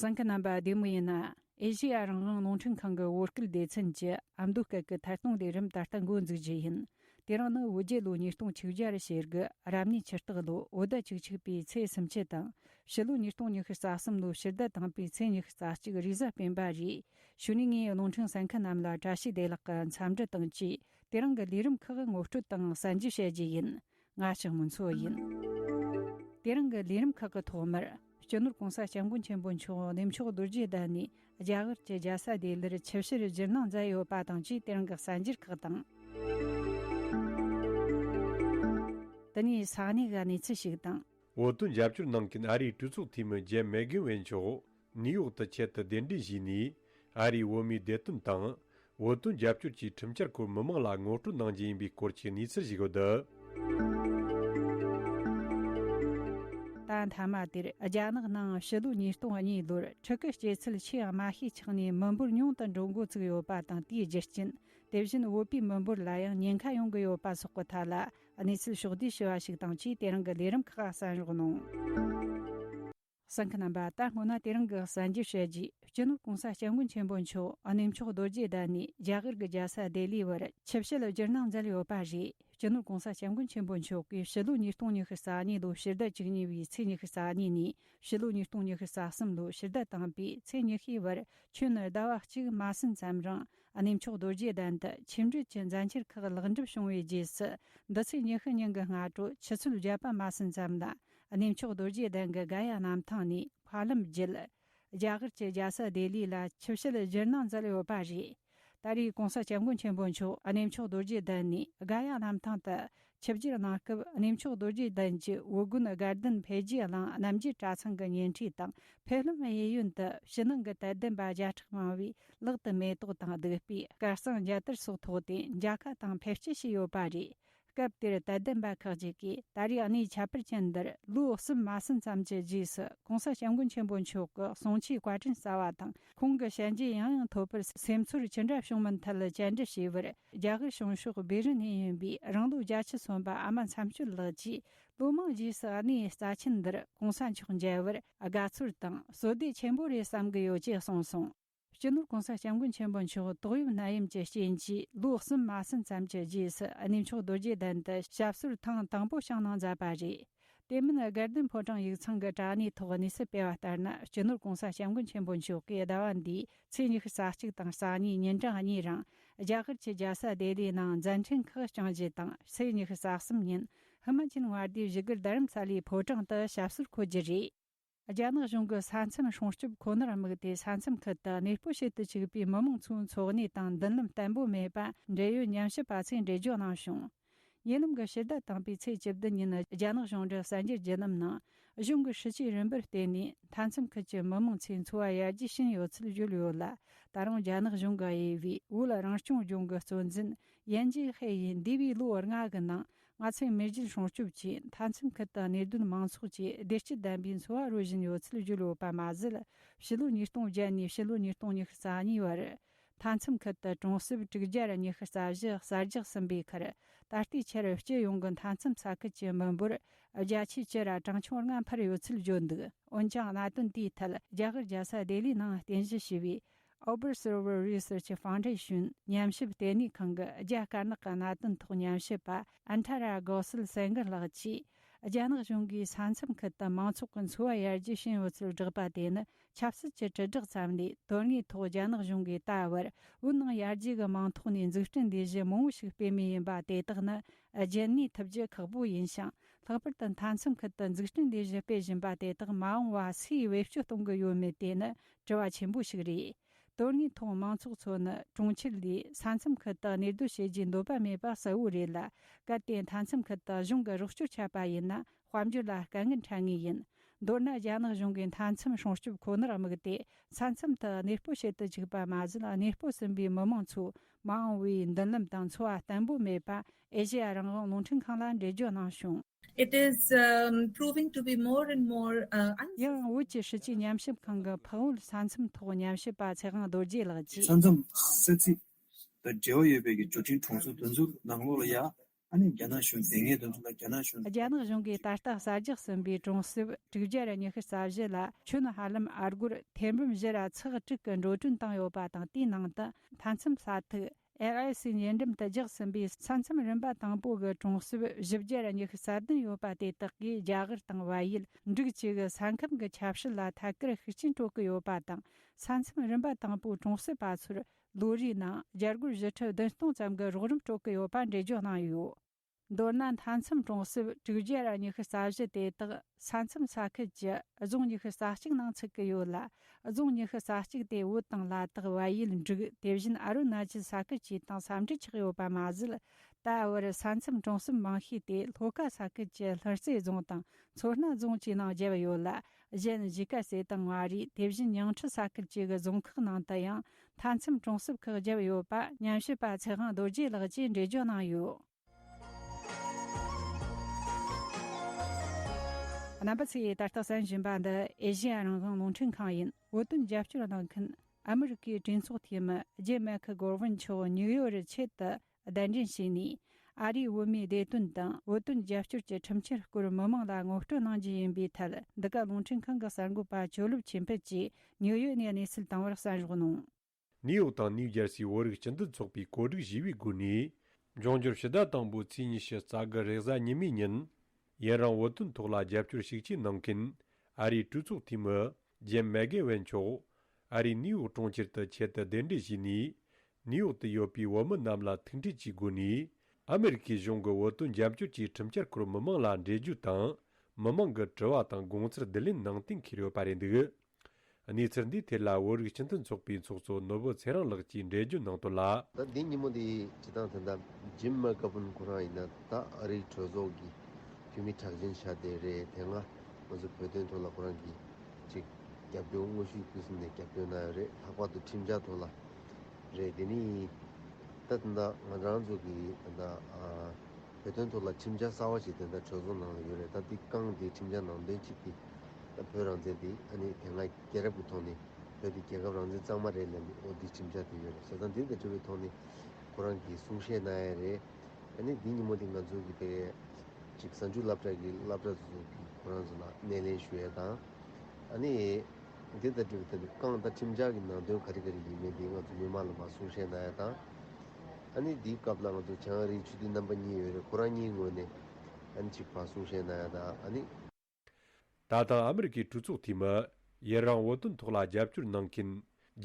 ཟངས་ཀྱི་རྣམ་པ་བདེ་མོ་ཡིན་ན། ཨེ་ཤེ་ཡ་རང་དབང་རླུང་འཕྲིན་ཁང་གི་བོད་སྐད་སྡེ་ཚན་གྱི་ཨ་མདོ་སྐད་ཀྱི་ཐད་གཏོང་ལས་རིམ་ད་ལྟ་འགོ་འཛུགས་རྒྱུ་ཡིན། དེ་རིང་ནི་བོད་རྒྱལ་ལོ་ཉིས་སྟོང་ཆིག་བརྒྱ་རུ་བྱེད་དགུ་རབ་གནས་ཕྱི་སྟག་ལོ་བོད་ཟླ་བཅུ་གཅིག་པའི་ཚེས་སུམ་ཆད་དང་ཕྱི་ལོ་ཉིས་སྟོང་ཉི་ཤུ་རྩ་གསུམ་ལོ་ཕྱི་ཟླ་དང་པའི་ཚེས་ཉི་ཤུ་རྩ་གཅིག་རིག་གཟའ་སྤེན་པ་རེད་ཞུ་ནས་ངས་རླུང་འཕྲིན་ཟངས་ཀྱི་རྣམས་ལ་བཀྲ་ཤིས་བདེ་ལགས་ཀྱི་འཚམས་འདྲི་དང་བཅས་དེ་རིང་གི་ལས་རིམ་ཁག་ངོ་སྤྲོད་དང་གསན་རྒྱུ་བཤད་རྒྱུ་ཡིན། ང་ཞིག་མིན་ཚོད་ཡིན། དེ་རིང་གི་ལས་རིམ་ཁག་གི་ཐོག་མར་སྤྱི་ནོར་གོང་ས་སྐྱབས་མགོན་ཆེན་པོ་མཆོག་གནས་མཆོག་རྡོ་རྗེ་གདན་ནས་རྒྱ་གར་གྱི་རྒྱལ་ས་ལྡི་ལིར་ཆིབས་བཤེར་བཞུགས་གནང་མཛད་ཡོད་པ་དང་བཅས་དེ་རིང་གི་གསར་འགྱུར་ཁག་དང། དེ་ནས་ས་གནས་ག་ནས་ཚུལ་ཞིག་དང། འོག་ཏུ་འཇབ་སྐྱོར་གནང་མཁན་ཨ་རིའི་གྲོས་ཚོགས་འཐུས་མི་ཇེམ་མེག་གྷིན་ཝེན་མཆོག། ནིའུ་ཡོག་ཏུ་ཆེད་དུ་གདན་འདྲེན་བྱས་ནས་ཨ་རིའི་འོས་མིའི་བདེ་དོན་དང་འོས་དོན་རྒྱབ་སྐྱོར་གྱི་ཁྲིམས་འཆར་སྐོར་མི་མང་ལ་ངོ་སྤྲོད་གནང་རྒྱུ་ཡིན་པའི་སྐོར་གྱི་གནས་ཚུལ་ཞིག་ཡོད་འདུག། ད་མཐའ་མ་དེར་རྒྱ་ནག་ནང་ཕྱི་ལོའི་ཉིས་སྟོང་གཉིས་ལོར་ཕྲུ་གུ་སྐྱེ་ཚུལ་ཆེ་ཡང་མ་ཤས་ཆགས་ནས་མི་འབོར་ཉུང་དུ་འགྲོ་འགོ་ཚུགས་ཡོད་པ་དང་དེའི་རྒྱུ་རྐྱེན་དེ་བཞིན་བོད་པའི་མི་འབོར་ལ་ཡང་ཉེན་ཁ་ཡོང་གི་ཡོད་པ་སོགས་ཀྱི་ཐད་ལ་གནས་ཚུལ་ཕྱོགས་བསྡུས་ཞུ་བ་ཞིག་དང་ཆེས་དེ་རིང་གི་ལས་རིམ་ཁག་གསན་རོགས་གནང། ས་འཁི་རྣམ་པ་ད་སྔོ་ན་དེ་རང་གི་གསན་རྒྱུ་བྱས་རྗེས་སྤྱི་ནོར་གོང་ས་སྐྱབས་མགོན་ཆེན་པོ་མཆོག་གནས་མཆོག་རྡོ་རྗེ་བདག་ནས་རྒྱ་གར་གི་རྒྱལ་ས་ལྡེ་ལི་བར་ཆིབས་བཤད་ལ་ཇིར་གནང་མཛད་ཡོད་པ་རེད་སྤྱི་ནོར་གོང་ས་སྐྱབས་མགོན་ཆེན་པོ་མཆོག་གིས་ཕྱི་ལོ་ཉིས་སྟོང་ཉི་ཤུ་རྩ་གཉིས་ལོ་ཕྱི་ཟླ་གཅིག་ཉེ་བའི་ཚེས་ཉི་ཤུ་རྩ་གཉིས་ནས་ཕྱི་ལོ་ཉིས་སྟོང་ཉི་ཤུ་རྩ་གསུམ་ལོ་ཕྱི་ཟླ་དང་པའི་ཚེས་ཉི་ཤུའི་བར་ཁྱོན་ནི་ཟླ་བ་གཅིག་མ་ཟིན་ཙམ་རིང་གནས་མཆོག་རྡོ་རྗེ་གདན་དུ་ཆིབས་འགྲོས་ཀྱི་མཛད་འཆར་ཁག་ལེགས་འགྲུབ་བྱུང་བའི་རྗེས་སུ་འདི་ཚེས་ཉི་ཤུ་ཉིན་གྱི་སྔ་དྲོ་ཆུ་ཚོད་བརྒྱད་པ་མ་ཟིན་ཙམ་ལ་གནས་མཆོག་རྡོ་རྗེ་གདན་གྱི་གན་ཡ་གནམ་ཐང་ནས་ཕར་ལམ་བརྒྱུད། རྒྱ་གར་གྱི་རྒྱལ་ས་ལྡི་ལི་ལ་ཆིབས་ཞལ་བཞེར་གནང་མཛད་ཡོད་པ་རེད། ད་རེས་གོང་ས་སྐྱབས་མགོན་ཆེན་པོ་མཆོག་གནས་མཆོག་རྡོ་རྗེ་གདན་ནས་གན་ཡ་གནམ་ཐང་དུ་ཆིབས་བསྒྱུར་གནང་སྐབས་གནས་མཆོག་རྡོ་རྗེ་གདན་གྱི་དབུ་དགོན་དགའ་ལྡན་འཕེལ་རྒྱས་གླིང་རྣམ་རྒྱལ་གྲྭ་ཚང་གི་ཉེ་འཁྲིས་དང་ཕེབས་ལམ་གཡས་གཡོན་དུ་ཕྱི་ནང་གི་དད་ལྡན་པ་བརྒྱ་ཕྲག་མང་བས་ལག་ཏུ་མེ་ཏོག་དང་བདུག་སྤོས་སྐར་གསང་རྒྱལ་དར་སོགས་ཐོགས་ཏེ་མཇལ་ཁ་དང་ཕེབས་སྐྱེལ་བྱས་ཡོད་པ་རེད། སྐབས་དེར་དད་ལྡན་པ་ཁག་ཅིག་གིས་ད་རེས་གནས་ཁྱད་པར་ཅན་འདིར་ལོ་གསུམ་མ་ཟིན་ཙམ་གྱི་རྗེས་སུ་གོང་ས་སྐྱབས་མགོན་ཆེན་པོ་མཆོག་གི་གསུང་ཆོས་བཀའ་དྲིན་གསལ་བ་དང་ཁོང་གི་ཞལ་མཇལ་ཡང་ཡང་ཐོབ་པར་སེམས་ཚོར་ཅི་འདྲ་བྱུང་མིན་མཐིལ་དཔྱད་འབྲི་བྱས་པར་རྒྱ་གར་བྱང་ཕྱོགས་སྦི་རི་ནས་ཡིན་པའི་རང་ལོ་བརྒྱ་ཆ་མཚོན་པ་ཨ་མ་མཚམས་གཅོད་ལགས་ཀྱིས་ལོ་མང་རྗེས་སུ་གནས་རྩ་ཆེན་འདིར་གོང་ས་མཆོག་མཇལ་བར་དགའ་ཚོར་དང་བསོད་བདེ་ཆེན་པོ་རེད་བསམ་གྱི་ཡོད་ཅེས་གསུངས་སོང། སྤྱི་ནོར་གོང་ས་སྐྱབས་མགོན་ཆེན་པོ་མཆོག་དོགས་ཡོད་ནད་ཡམས་ཀྱི་རྐྱེན་གྱིས་ལོ་གསུམ་མ་ཟིན་ཙམ་གྱི་རྗེས་སུ་གནས་མཆོག་རྡོ་རྗེ་གདན་དུ་ཞབས་སོར་ཐེངས་དང་པོ་བྱང་གནང་མཛད་པ་རེད། དེ་མིན་དགེ་ལྡན་ཕོ་བྲང་ཡིག་ཚང་གི་དྲ་གནས་ཐོག་གནས་ཚུལ་སྤེལ་བ་ལྟར་ན་སྤྱི་ནོར་གོང་ས་སྐྱབས་མགོན་ཆེན་པོ་མཆོག་གིས་ཟླ་བ་འདིའི་ཚེས་ཉི་ཤུ་ས་གཅིག་དང་ས་གཉིས་ཉིན་གྲངས་གཉིས་རིང་རྒྱ་གར་གྱི་རྒྱལ་ས་ལྡི་ལིའི་ནང་མཛད་འཕྲིན་ཁག་བསྐྱངས་རྗེས་དང་ཚེས་ཉི་ཤུ་ས་གསུམ་ཉིན་ཧི་མ་ཅལ་ངྷ་ལྡིའི་བཞི་སྒར་རྡ་རམ་ས་ལའི་ཕོ་བྲང་དུ་ཞབས་སོར་འཁོད་རྒྱུ་རེད། རྒྱ་ནག་གཞུང་གི་ས་མཚམས་སྲུང་སྐྱོབ་ཁོ་ནར་དམིགས་ཏེ་ས་མཚམས་ཁུལ་དུ་གནས་སྤོ་བྱེད་དུ་བཅུག་པའི་མི་མང་ཚོའི་འཚོ་གནས་དང་མདུན་ལམ་བརྟན་པོ་མེད་པ་འབྲེལ་ཡོད་ཉམས་ཞིབ་པ་ཚོས་འགྲེལ་བརྗོད་གནང་བྱུང། ཉེ་ལམ་གྱི་ཕྱི་ཟླ་དང་པའི་ཚེས་བཅུ་བདུན་ཉིན་རྒྱ་ནག་གཞུང་འབྲེལ་གསར་འགྱུར་བརྒྱུད་ལམ་ནང་གཞུང་གི་ཧྲི་ཅི་རིན་པོར་བརྟེན་ནས་མཐའ་མཚམས་ཁུལ་གྱི་མི་མང་ཚོའི་འཚོ་བ་ཡར་རྒྱས་ཕྱིན་ཡོད་ཚུལ་བརྗོད་ཡོད་ལ་ད་རུང་རྒྱ་ནག་གཞུང་གི་དབྱེ་བའི་དབུས་ལ་རང་སྐྱོང་ལྗོངས་ཀྱི་གཙོ་འཛིན་ཡན་ཅིན་ཧའེ་ཡིས་འདས་པའི་ལོ་ལྔ་གི་ནང་ང་ཚོས་མེས་རྒྱལ་སྲུང་སྐྱོབ་ཆེད་མཐའ་མཚམས་ཁུལ་དུ་གནད་དོན་མང་ཚོགས་ཀྱིས་བདེ་སྐྱིད་ལྡན་པའི་འཚོ་བ་རོལ་བཞིན་ཡོད་ཚུལ་བརྗོད་ཡོད་པ་མ་ཟད། ཕྱི་ལོ་ཉིས་སྟོང་བརྒྱད་ནས་ཕྱི་ལོ་ཉིས་སྟོང་ཉི་ཤུ་རྩ་གཉིས་བར། མཐའ་མཚམས་ཁུལ་དུ་གྲོང་གསེབ་དྲུག་བརྒྱར་ཉི་ཤུ་རྩ་བཞི་གསར་རྒྱག་ཟིན་པའི་ཁར། ད་ལྟའི་ཆར་སྤྱི་ཡོངས་ཀྱི་མཐའ་མཚམས་ས་ཁུལ་གྱི་མི་འབོར་བརྒྱ་ཆའི་བཅུ་ར་གྲངས་ཆུང་ལྔ་འཕར་ཡོད་ཚུལ་བརྗོད་འདུག་འོན་ཀྱང་གནད་དོན་དེའི་ཐད་རྒྱ་གར་རྒྱལ་ས་ལྡི་ལིའི་ནང་རྟེན་གཞི་བྱས་པའི Ober Server Research Foundation ཉམས་ཞིབ་ལྟེ་གནས་ཁང་གི་རྒྱ་དཀར་ནག་གི་གནད་དོན་ཐོག་ཉམས་ཞིབ་པ Antara Gossel Sanger ལགས་ཀྱིས་རྒྱ་ནག་གཞུང་གིས་ས་མཚམས་ཁུལ་དུ་མང་ཚོགས་ཀྱི་འཚོ་བ་ཡར་རྒྱས་ཕྱིན་ཡོད་ཚུལ་བསྒྲགས་པ་དེ་ནི་ཆབ་སྲིད་ཀྱི་དྲིལ་བསྒྲགས་ཙམ་ལས་དོན་དངོས་ཐོག་རྒྱ་ནག་གཞུང་གིས་ད་བར་བོད་ནང་ཡར་རྒྱས་ཀྱི་མིང་ཐོག་ནས་འཛུགས་སྐྲུན་ལས་གཞི་མང་བོ་ཞིག་སྤེལ་མུས་ཡིན་པ་དེ་དག་ནི་རྒྱུན་གནས་ཐུབ་རྒྱུ་ཁག་པོ་ཡིན་ཞིང་ལྷག་པར་དུ་མཐའ་མཚམས་ཁུལ་དུ་འཛུགས་སྐྲུན་ལས་གཞི་སྤེལ་བཞིན་པ་དེ་དག་མ་འོངས་བར་སུས་བེད་སྤྱོད་གཏོང་གི་ཡོད་མེད་དེ་ནི་དྲི་བ་ཆེན་པོ་ཞིག་རེད། དོན་དངོས་ཐོག་མང་ཚོགས་ཚོ་ནི་གྲོང་ཁྱེར་ལས་ས་མཚམས་ཁུལ་དུ་གནས་སྡོད་བྱེད་རྒྱུའི་འདོད་པ་མེད་པ་གསལ་བོ་རེད་ལ་གལ་ཏེ་མཐའ་མཚམས་ཁུལ་དུ་གཞུང་གི་རོགས་སྐྱོར་ཆད་པ་ཡིན་ན་དཔལ་འབྱོར་ལ་དཀའ་ངལ་འཕྲད་ངེས་ཡིན། མདོར་ན་རྒྱ་ནག་གཞུང་གིས་མཐའ་མཚམས་སྲུང་སྐྱོབ་ཁོ་ནར་དམིགས་ཏེ་ས་མཚམས་དུ་གནས་སྤོ་བྱེད་དུ་བཅུག་པ་མ་ཟད་གནས་སྤོ་ཟིན་པའི་མི་མང་ཚོས་མ་འོངས་བའི་མདུན་ལམ་དང་འཚོ་བ་བརྟན་པོ་མེད་པ་ཨེ་ཤེ་ཡ་རང་བྱུང་རླུང་འཕྲིན་ཁང་ལ་འགྲེལ་བརྗོད་གནང་བྱུང། It is proving to be more and more uncertain. ཡང་ཨང་བོད་ཀྱི་སྲིད་སྤྱི་ཉམས་ཞིབ་ཁང་གི་བྷག་ཝུལ་ས་མཚམས་ཐོག་ཉམས་ཞིབ་པ་ཚེ་དབང་རྡོ་རྗེ་ལགས་ཀྱིས། ས་མཚམས་ས་ཚིགས་དང་འབྲེལ་བ་ཡོད་པའི་གྱི་འབྱོར་འབྲིང་གྲོང་ཚོའི་འདུ་འཛོམས་ནང་ལོ་ལ་ཡ་ཨ་ནི་རྒྱ་ནག་གཞུང་དེ་སྔའི་འདུ་འཛོམས་ལ་རྒྱ་ནག་གཞུང་རྒྱ་ནག་གཞུང་གིས་ད་ལྟ་གསར་རྒྱག་ཟིན་པའི་གྲོང་གསེབ་དྲུག་བརྒྱ་རེ་ཉི་ཤུ་རྩ་བཞི་ལ་ཆུ་ནི་ཧ་ལམ་ཨར་སྒོར་ཐེར་འབུམ་བཞི་ར་ཚེག་དྲུག་གི་འགྲོ་གྲོན་བཏང་ཡོད་པ་དང་དེའི་ནང་དུ་མཐའ་མཚམས་ས་ཐིག LIC ཉེ་འགྲམ་དུ་རྒྱག་ཟིན་པའི་ས་མཚམས་རིམ་པ་དང་པོ་གི་གྲོང་གསེབ་བཞི་བརྒྱ་རེ་གཉིས་རྩ་བདུན་ཡོད་པ་དེ་དག་གིས་རྒྱ་གར་དང་བལ་ཡུལ་འབྲུག་བཅས་ཀྱི་ས་ཁམས་ཀྱི་ཁྱབ་བྱེད་ལ་ཐད་ཀར་ཤུགས་རྐྱེན་སྤྲོད་ཀྱི་ཡོད་པ་དང་ས་མཚམས་རིམ་པ་དང་པོའི་གྲོང་གསེབ་པ་ཚོར་ལོ་རེའི་ནང་རྒྱ་སྒོར་བཞི་ཁྲི་བདུན་སྟོང་ཙམ་གྱི་རོགས་རམ་སྤྲོད་ཀྱི་ཡོད་པ་འགྲེལ་བརྗོད་གནང་ཡོད། མདོར་ན་མཐའ་མཚམས་གྲོང་གསེབ་དྲུག་བརྒྱ་ར་ཉི་ཤུ་རྩ་བཞི་དེ་དག་ས་མཚམས་ས་ཁུལ་གྱི་རྫོང་ཉི་ཤུ་རྩ་གཅིག་ནང་ཚུད་ཀྱི་ཡོད་ལ་རྫོང་ཉི་ཤུ་རྩ་གཅིག་དེ་བོད་དང་ལ་དྭགས་བལ་ཡུལ་འབྲུག་དེ་བཞིན་ཨ་རུ་ན་ཅལ་ས་ཁུལ་བཅས་དང་ས་འབྲེལ་ཆགས་ཡོད་པ་མ་ཟད་ད་བར་ས་མཚམས་གྲོང་གསེབ་མང་ཤོས་དེ་ལྷོ་ཁ་ས་ཁུལ་གྱི་ལྷུ་རྩེ་རྫོང་དང་མཚོ་སྣ་རྫོང་བཅས་ནང་བརྒྱབ་ཡོད་ལ་གཞན་གཞིས་ཀ་རྩེ་དང་མངའ་རིས་དེ་བཞིན་ཉིང་ཁྲི་ས་ཁུལ་བཅས་ཀྱི་རྫོང་ཁག་ནང་དུ་ཡང་མཐའ་མཚམས་གྲོང་གསེབ་ཁག་བརྒྱབ་ཡོད་པ་ཉམས་ཞིབ་པ་ཚེ་དབང་རྡོ་རྗེ་ལགས་ཀྱིས་འགྲེལ་བརྗོད་གནང་ཡོད། རྣམ་པ་ཚོས་ད་ལྟ་བསམ་བཞིན་པ་འདི་ཨེ་ཤི་ཡ་རང་དབང་རླུང་འཕྲིན་ཁང་ཡིན་བོད་དོན་རྒྱབ་སྐྱོར་གནང་མཁན་ཨ་མི་རི་ཀའི་གྲོས་ཚོགས་འཐུས་མི་རྗེ་མེ་ཁི་གོར་བྷིན་མཆོག་ཉུག་ཡོར་རི་ཆེད་དུ་གདན་འདྲེན་བྱས་ནས་ཨ་རིའི་བོད་མིའི་བདེ་དོན་དང་བོད་དོན་རྒྱབ་སྐྱོར་གྱི་ཁྲིམས་འཆར་སྐོར་མི་མང་ལ་ངོ་སྤྲོད་གནང་རྒྱུ་ཡིན་པའི་ཐད་འདི་ག་རླུང་འཕྲིན་ཁང་གི་གསར་འགོད་པ་ཆོས་ལུགས་ཆོས་འཕེལ་གྱིས་ཉིའུ་ཡོག་ནས་གནས་ཚུལ་བཏང་བར་གསན་རོགས་གནང། ནིའུ་ཡོག་དང་ནིའུ་ཇར་སིའི་བོད་རིགས་སྤྱི་མཐུན་ཚོགས་པའི་གོ་སྒྲིག་བཞི་པའི་སྒོ་ནས། འབྱུང་འགྱུར་ཕྱི་ཟླ་དང་པོའི་ཚེས་ཉི་ཤུ་རྩ་དགུ་རེས་གཟའ་ཉི་མའི་ཉིན། ཡན་རང་བོད་དོན་ཐོག་ལ་རྒྱབ་སྐྱོར་ཤུགས་ཆེན་གནང་མཁན་ཨ་རིའི་གྲོས་ཚོགས་འཐུས་མི། རྗེན་མེ་གེ་ཝན་མཆོག། ཨ་རིའི་ནིའུ་ཡོག་གྲོང་ཁྱེར་དུ་ཆེད་དུ་གདན་འདྲེན་བྱས་ནས། ནིའུ་ཡོག་ཏུ་ཡོད་པའི་བོད་མི་རྣམས་ལ་ཐུག་འཕྲད་ཀྱི་སྒོ་ནས། ཨ་མི་རི་ཀའི་གཞུང་གི་བོད་དོན་རྒྱབ་སྐྱོར་གྱི་ཁྲིམས་འཆར་སྐོར་མི་མང་ལ་འགྲེལ་བརྗོད་དང། མི་མང་གི་དྲི་བ་དང་དགོངས་ཚུལ་བསྡུ་ལེན་གནང་གཏན་འཁེལ་ཡོད་པ་རེད་འདུག་གནས་ཚུལ་འདིའི་ཐད་ལ་བོད་རིགས་སྤྱི་མཐུན་ཚོགས་པའི་ཚོགས་གཙོ་ནོར་བུ་ཚེ་རིང་ལགས་ཀྱིས་འགྲེལ་བརྗོད་གནང་དོན་ལ། ད་ལྡིང་ཉིན་མོ་འདི་བྱེད་སྟངས་དེ་འདྲ་རྗེན་མེ་གེ་ཝན་ཁོ་རང་ཡིན་ན་ད་ཨ་རིའི་གྲོས་ཚོགས་ཀྱི་འཐུས་མི་གྲགས་ཅན་ཤ་སྟེ་རེད་དེ་སྔ། ང་ཚོ་བོད་དོན་ཐོག་ལ་ཁོ་རང་གིས་གཅིག་རྒྱབ་སྐྱོར་དངོས་གཞི་ཕུན་སུམ་ནས་རྒྱབ་སྐྱོར་གནང་ཡོད་རེད་ལྷག་པར་དུ་ཁྲིམས་འཆར་ཐོག་ལ་རེད་དེ་ནི་ཡིན། ད་དེ་འདྲ་ང་རང་ཚོ་གིས་ད་ལྟ་བོད་དོན་ཐོག་ལ་ཁྲིམས་འཆར་གསར་བ་ཞིག་དེ་འདྲ་གྲོས་ཚོགས་ནང་ལ་ཡོད་རེད་ད་དེ་བསྐངས་ཏེ་ཁྲིམས་འཆར་ནང་དོན་གཅིག་དེ་ད་བོད་རང་བཙན་དེ་ཨ་ནི་དེ་སྔ་རྒྱལ་རབས་ཀྱི་ཐོག་ནས་བོད་དེ་རྒྱལ་ཁབ་རང་བཙན་གཙང་མ་རེད་ལབ་ནས་ཨོ་དེ་ཁྲིམས་འཆར་དེ་ཡོད་རེད་བྱས་ཙང་དེ་འདྲ་བྲིས་པའི་ཐོག་ནས་ཁོ་རང་གིས་གསུང་བཤད་གནང་ཡས་རེད། ཨ་ནི་འདི་ཉིན་མོ་འདི་ང་ཚོ་གི་དེ། གཅིག་གསར་འགྱུར་བསླབ་གྲྭ་གི་བསླབ་གྲྭ་ཟུར་དུ་གྱི་ཁོ་རང་ཚོ་ལ་སྣེ་ལེན་ཞུ་ཡས་དང། ཨ་ནི། འདི་ལྟར་འབྲི་བ་ལྟ་བུའི་རྐང་བལྟ་ཁྲིམས་འཆར་གྱི་ནང་དོན་ག་རེ་ག་རེ་ཡིན་མིན་འདི་ང་ཚོ་མི་མང་ལ་མ་གསུང་བཤད་གནང་ཡས་དང། ཨ་ནི་འདིའི་སྐབས་ལ་ང་ཚོ་བྱང་རིའི་ཆོས་སྡེ་རྣམ་པ་གཉིས་ཡོད་རེད་ཁོ་རང་གཉིས་ངོས་ནས། ཨ་ནི་གཅིག་བག་གསུང་བཤད་གནང་ཡས་དང་ཨ་ནི། ད་ཐང་ཨ་མི་རི་ཀའི་གྲུ་ཚོགས་འཐུས་མི། ཡི་རང་བོ་ཏོན་ཐོག་ལ་རྒྱབ་སྐྱོར་གནང་མཁན་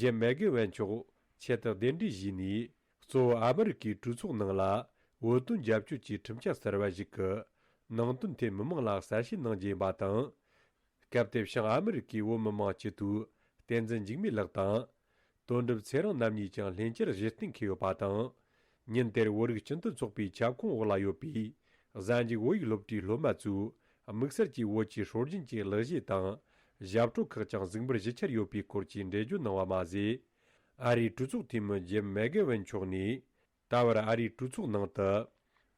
ཇེམ་མེག་གེ་ཝན་མཆོག་ཆེད་དུ་གདན་འདྲེན་བཞུས་ནས་གཙོ་བོ་ཨ་མི་རི་ཀའི་གྲུ་ཚོགས་ནང་ལ་བོ་ཏོན་རྒྱབ་སྐྱོར་གྱི་ཁྲིམས་འཆར་གསར་བ་ཞིག་གི་ནང་དོན་ཐད་མི་མང་ལ་གསལ་བཤད་གནང་རྒྱུ་ཡིན་པ་དང། སྐབས་དེ་བྱུང་ཨ་མི་རི་ཀའི་བོད་མི་མང་སྤྱི་འཐུས་བསྟན་འཛིན་འཇིགས་མེད་ལགས་དང། དོན་གྲུབ་ཚེ་རིང་རྣམ་གཉིས་ཀྱང་ལྷན་རྒྱས་གཞི་རྟེན་འཁེལ་ཡོད་པ་དང། ཉིན་དེར་བོད་རིགས་སྤྱི་མཐུན་ཚོགས་པའི་ཁྱབ་ཁོངས་འོག་ལ་ཡོད་པའི་གཟའ་འཇིགས་བོད་ཡིག་སློབ་གྲྭའི་སློབ་མ་ཚོས་དམིགས་བསལ་གྱིས་བོད་ཀྱི་སྲོལ་རྒྱུན་གྱི་ལག་ཤེས་དང། ཞབས་བྲོ་ཁག་ཀྱང་གཟིགས་འབུལ་བཞི་འཁྱེར་ཡོད་པའི་སྐོར་གྱི་འགྲེལ་བརྗོད་གནང་བ་མ་ཟད། ཨ་རིའི་གྲོས་ཚོགས་འཐུས་མི་ཇིམ་མེག་གྷེ་ཝན་མཆོག་ནས་ད་བར་ཨ་རིའི་གྲོས་ཚོགས་ནང་དུ།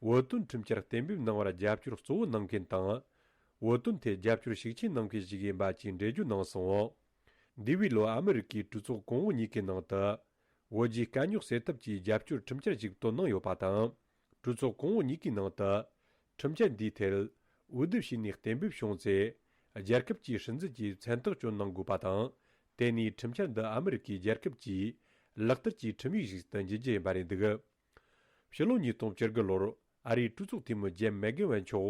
བོད་དོན་ཁྲིམས་འཆར་གཏན་འབེབས་གནང་བར་རྒྱབ་སྐྱོར་གཙོ་བོ་གནང་མཁན་དང། བོད་དོན་ཐད་རྒྱབ་སྐྱོར་ཤུགས་ཆེན་གནང་མཁན་ཞིག་ཡིན་པ་བཅས་འགྲེལ་བརྗོད་གནང་སོང། འདས་པའི་ལོ་ཨ་མི་རི་ཀའི་གྲོས་ཚོགས་གོང་འོག་གཉིས་ཀའི་ནང་དུ། བོད་རྒྱའི་དཀའ་རྙོག་སེལ་ཐབས་ཀྱི་རྒྱབ་སྐྱོར་ཁྲིམས་འཆར་ཞིག་བཏོན་གནང་ཡོད་པ་དང། གྲོས་ཚོགས་གོང་འོག་གཉིས་ཀའི་ནང་དུ། ཁྲིམས་འཆར་འདིའི་ཐད། འོས་བསྡུ་བྱས་ནས་གཏན་འབེབས་བྱུང་ཚེ། རྒྱལ་ཁབ་ཀྱི་སྲིད་འཛིན་གྱིས་མཚན་རྟགས་བཅོས་གནང་དགོས་པ་དང། དེ་ནི་ཁྲིམས་འཆར་འདི་ཨ་མི་རི་ཀའི་རྒྱལ་ཁབ་ཀྱིས་ལག་བསྟར་གྱི་ཁྲིམས་ཡིག་ཞིག་ཏུ་འགྱུར་གྱི་ཡིན་པ་རེད་འདུག། ཕྱི་ལོ་ཉིས་སྟོང་བཅུ་དགུ་ལོར་ཨ་རིའི་སྤྲུལ་ཚོགས་འཐུས་མི་ཇེམ་མེག་གྷེ་ཝན་མཆོག་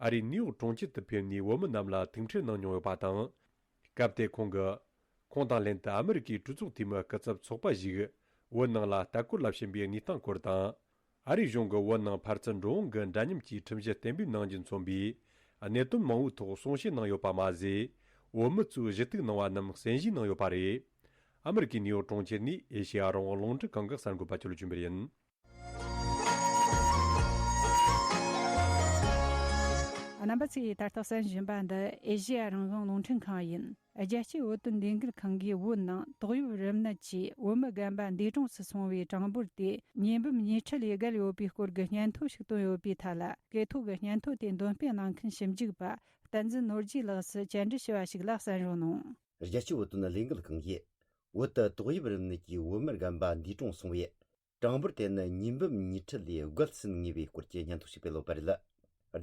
ཨ་རིའི་ནེའུ་ཡོག་གྲོང་ཁྱེར་དུ་ཕེབས་ནས་བོད་མི་རྣམས་ལ་ཐུག་འཕྲད་གནང་མྱོང་ཡོད་པ་དང། སྐབས་དེར་ཁོང་གིས། ཁོང་དང་ལྷན་དུ་ཨ་མི་རི་ཀའི་སྤྲུལ་ཚོགས་འཐུས་མི་སྐུ་ཚབ་ཚོགས་པ་ཞིག་བོད་ནང་ལ་ལྟ་སྐོར་ལ་ཕྱིན་པའི་གནས་སྟངས་སྐོར་དང། ཨ་རིའི་གཞུང་གི་བོད་ནང་ཕར་ཚུར་འགྲོ་འོང་གི་འདྲ་མཉམ་གྱི་ཁྲིམས་གཞི་གཏན་འབེབས་གནང་རྒྱུ་མཚོན་པའི་གནད་དོན་མང་བོའི་ཐོག་གསུང་བཤད་གནང་ཡོད་པ་མ་ཟད། བོད་མི་ཚོས་གཞི་གཏུག་གནང་བ་རྣམས་གསན་གཞིགས་གནང་ཡོད་པ་རེད། ཨ་མི་རི་ཀའི་ནེའུ་ཡོག་གྲོང་ཁྱེར་ནས་ཨེ་ཤེ་ཡ་རང་དབང་རླུང་འཕྲིན་རྐང་འགག་གསར་འགོད་པ་ཅོལ་ཅུན་པེར་ཡིན། རྣམ་པ་ཚོས་ད་ལྟ་གསན་བཞིན་པ་འདི་ཨེ་ཤེ་ཡ་རང་དབང་རླུང་འཕྲིན་ཁང་ཡིན། རྒྱལ་སྤྱིའི་བོད་དོན་ལས་འགུལ་ཁང་གིས་བོད་ནང་ཏོག་དབྱིབས་རིམས་ནད་ཀྱིས་བོད་མི་རྒན་པ་འདས་གྲོངས་སུ་སོང་བའི་གྲངས་འབོར་དེ་ཉིས་འབུམ་ཉིས་ཁྲི་ལས་བརྒལ་ཡོད་པའི་སྐོར་གྱི་སྙན་ཐོ་ཞིག་བཏོན་ཡོད་པའི་ཐད་ལ་དགེ་ཐོག་གི་སྙན་ཐོ་དེ་འདོན་སྤེལ་གནང་མཁན་ཞིབ་འཇུག་པ་བསྟན་འཛིན་ནོར་རྒྱས་ལགས་སུ་བཅར་འདྲི་ཞུ་བ་ཞིག་ལ་གསན་རོགས་གནང། རྒྱལ་སྤྱིའི་བོད་དོན་ལས་འགུལ་ཁང་གིས་བོད་དུ་ཏོག་དབྱིབས་རིམས་ནད་ཀྱིས་བོད་མི་རྒན་པ་འདས་གྲོངས་སོང་བའི་གྲངས་འབོར་དེ་ནི་ཉིས་འབུམ་ཉི་ཁྲི་ལས་བརྒལ་ཟིན་ངེས་པའི་སྐོར་གྱི་སྙན་ཐོ་ཞིག་སྤེལ་འོག་པ་རེད།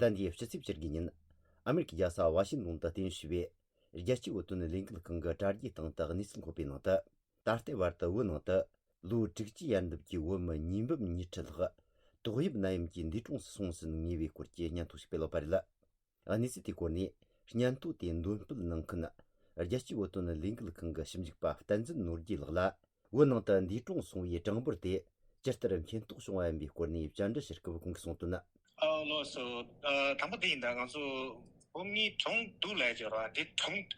ཟླ་འདིའི་ཕྱི་ཚེས་བཅུ་དགུའི་ཉིན། ཨ་མེ་རི་ཁའི་རྒྱལ་ས་ཝཱ་ཤིང་ཏོན་དུ་ལྟེ་བྱས་པའི། རྒྱལ་སྤྱིའི་འོད་སྟོན་ལས་འགུལ་ཁང་གི་དྲ་རྒྱའི་སྟེང་དུ་གནས་ཚུལ་འཁོད་པའི་ནང་དུ། ད་ལྟའི་བར་དུ་བོད་ནང་དུ། ལོའི་དྲུག་ཅུའི་ཡར་འདབ་ཀྱི་བོད་མི་ཉིས་འབུམ་ཉི་ཁྲི་ལྷག། ཏོག་དབྱིབས་ནད་ཡམས་ཀྱི་འདས་གྲོངས་སུ་སོང་ཟིན་ངེས་པའི་སྐོར་གྱི་སྙན་ཐོ་ཞིག་སྤེལ་འོག་པ་རེད། གནས་ཚུལ་དེའི་སྐོར་ནས་སྙན་ཐོ་དེ་འདོན་སྤེལ་གནང་མཁན། རྒྱལ་སྤྱིའི་འོད་སྟོན་ལས་འགུལ་ཁང་གི་ཞིབ་འཇུག་པ་བསྟན་འཛིན་ནོར་རྒྱས་ལགས་ལ། བོད་ནང་དུ་འདས་གྲོངས་སོང་བའི་གྲངས་འབོར་དེ་ཇི་ལྟར་མཁྱེན་རྟོགས་བྱུང་བ་ཡིན་པའི་སྐོར་ནས་བཅར་འདྲི་ཕྱིར་སྐུལ་གང་གིས་གསུངས་དོན། ལོགས་སུ། དང་པོ་དེ་ཡིན་ད་ང་ཚོ་བོད་མི་གྲོངས་འདུག་ལས་བྱེད་རོགས་དེ་གྲོངས་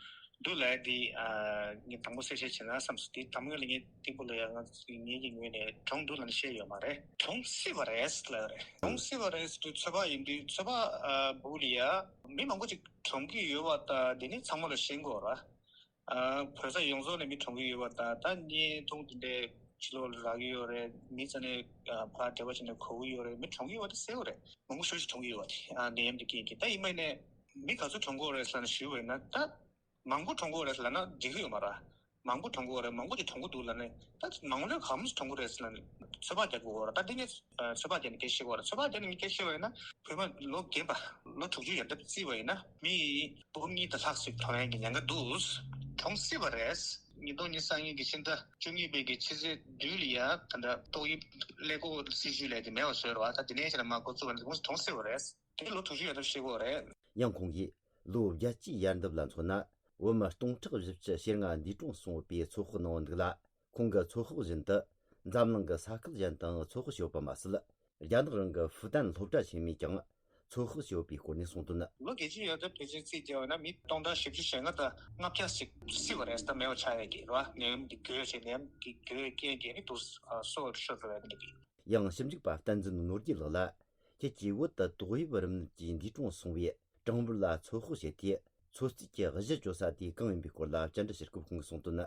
འདུག་ལས་དེ་ངས་དང་པོ་གསལ་བཤད་བྱེད་ན་བསམ་སོང་དེ་དང་པོ་ངས་ལས་ངན་སྟེགས་བུ་ལ་ཡང་ང་ཚོ་ངེད་ཀྱི་ངོས་ནས་གྲོངས་འདུག་ལ་བཤད་ཡོད་མ་རེད། གྲོངས་སྲིད་པ་རེད་ལ་རེད་གྲོངས་སྲིད་པ་རེད་དུས་ཚོད་དཔག་ཡིན་དུས་ཚོད་དཔག་འབུག་ལ་ཡ། མི་མང་པོ་ཅིག་གྲོངས་ཀྱི་ཡོད་བ་ད་དེ་ནས་ཚང་མ་ལ་བཤད་འགོ་ར། བོད་ས་ཡོངས་རྫོགས་ནས་མི་གྲོངས་ཀྱི་ཡོད་པ་དང་ད་བརྙན་ཐུང་འདི་འདྲའི་ཕྱི་ལོག་ལ་རག་གི་ཡོད་རེད་མི་རྩ་ནས་ཕ་འདྲེ་བ་བྱས་ནས་གོ་གི་ཡོད་རེད་མི་གྲོངས་ཀྱི་ཡོད་པ་དེ་གསལ་བོ་རེད་མང་པོ་ཞོ་ཞིག་གྲོངས་ཀྱི་ཡོད་པ་དེ་ནད་ཡམས་དེ་རྐྱེན་གྱིས་ད་ཡིན་མ་ཡིན་ནས་མི་ག་ཚོད་གྲོངས་གི་ཡོད་རེད་ཟེར་ན་ཞུས་བས་ན་ད་མང་པོ་གྲོངས་གི་ཡོད་རེད་ཟེར་ན་འགྲིག་གི་ཡོད་མ་ར་མང་པོ་གྲོངས་གི་ཡོད་རེད་མང་པོ་ཞིག་གྲོངས་གི་འདུག་ལ་ནི་ད་མང་ལོས་གང་མོས་ཀྱིས་གྲོངས་གི་རེད་ཟེར་ན་ནི་ཚོད་དཔག་རྒྱག་གི་འོ་ར་ད་འདི་ནས་ཚོད་དཔག་བྱས་ནས་སྐད་ཤེས་གི་འོ་ར་ཚོད་དཔག་བྱས་ནས་མི་སྐད་ཤེས་བས་ན་བོད་མ་ལོ་རྒན་པ་ལོ་དྲུག་ཅུ་ཡར་འདེབས་བརྩིས་བས་ན་མི་སྟོང་ཉིད་དུ་ལྷག་ཟིག་ཐོ་ཡན་གྱི་ཉང་ག་དུས་གྲོངས་སྲིད་པ་རེད། ཉིས་སྟོང་ཉིས་སང་ཡིག་གི་ཕྱི་ཟླ་བཅུ་གཉིས་པའི་གི་ཕྱི་ཚེས་བདུན་ལ་ཡང་ད་ལྟ་ཏོག་དབྱིབས་ཀླད་ཀོ་སྲིད་བྱུས་ལས་ཀྱི་མེ་བ་བཟོས་ར་བ་ད་དེ་ནས་ཕྱི་ལ་མ་གོ་ཚུ་བ་ནི་གོངས་གྲོངས་སྲིད་པ་རེད། དེ་ལོ་དྲུག་ཅུ་ཡོད་ཐབས་ཤེས་དགོས་རེད། ཡང་ཁོང་གིས། ལོ་བརྒྱ་གཅིག་ཡར་འདེབས་ལ་མཚོན་ན། བོད་མི་སྟོང་ཕྲག་བཞི་བཅུ་ཞེ་ལྔ་འདུས་གྲོངས་སོང་བའི་ཚོད་དཔག་གནང་འདུག་ལ། ཁོང་གི་ཚོད་དཔག་བཞིན་དུ་འཛམ་གླིང་གི་ས་ཁུལ་གཞན་དུའང་ཚོད་དཔག་བྱས་པ་མ་ཟད་རྒྱ་ནག་རང་གི་ཧྥུ་ཏན་སློབ་གྲྭ་ཆེན་མོས་ཀྱང་ཚོད་དཔག་བྱས་པའི་སྐོར་ནས་གསུངས་དོན། ལོ་བརྒྱད་ཅུ་ཡོལ་དུ་བོད་ཆས་རྩིས་བརྒྱབ་པ་ན་མི་སྟོང་ཕྲག་བཞི་བཅུ་ཞེ་ལྔ་དང་ལྔ་བརྒྱ་ཞིག་བསིལ་བ་རེད་ད་མེད་པ་ཆགས་ཡོད་ཀྱི་རེད་ནད་ཡམས་ཀྱི་གོས་ཆེ་ནད་ཡམས་ཀྱི་གོས་རྐྱེན་གྱིས་ནི་དུག་གསོ་བར་ཤོར་འགྲོ་བས་ནད་པའི། ཡང་ཞིབ་འཇུག་པ་བསྟན་འཛིན་ནོར་རྒྱས་ལགས་ལ་ཁྱེད་ཀྱིས་བོད་དུ་ཏོག་དབྱིབས་རིམས་ནད་ཀྱིས་འདས་གྲོངས་སོང་བའི་གྲངས་འབོར་ལ་ཚོད་དཔག་བྱས་ཏེ་ཚོད་རྩིས་ཀྱི་གཞི་བཅོལ་ས་དེ་གང་ཡིན་པའི་སྐོར་ལ་བཅར་འདྲི་ཕྱིར་སྐུ་ཕུང་གིས་གསུངས་དོན།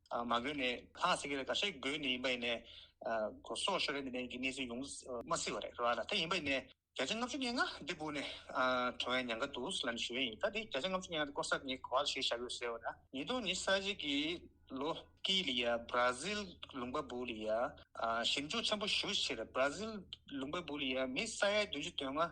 མ་དགོས་ནས་ཁ་ཟེར་གི་རེད་ད་ཤེས་དགོས་ནས་ཡིན་པ་ཡིན་ནས། གོ་སོག་ཤོར་རེད་ནས་ཀྱི་གནས་ཚུལ་ཡོང་མ་སྲིད་པ་རེད་རོ་ཨ་ན་དེ་ཡིན་པ་ཡིན་ནས། བརྒྱ་ཆ་ལྔ་བཅུ་ཉེ་ང་འདི་བུ་ནས་བྲོ་བའི་ཉང་ཁ་འདུག་སི་ལ་ནས་ཞུ་བའི་ཡིན་ད་དེ་བརྒྱ་ཆ་ལྔ་བཅུ་ཉེ་ང་དེ་སྐོར་ས་ངས་གོ་བ་ལ་ཞུས་བཞག་གི་རེད་ཟེར་བ་ན། ཉིས་སྟོང་ཉི་ས་གཅིག་གི་ལོ་ཀི་ལི་ཡ་སྦ་ར་ཟིལ་ལུང་པ་བུ་ལི་ཡ་ཞིབ་འཇུག་ཆེན་པོ་ཞུ་ཕྱིར་སྦ་ར་ཟིལ་ལུང་པ་བུ་ལི་ཡ་མི་ས་ཡ་བདུན་ཅུ་དོན་ལྔ་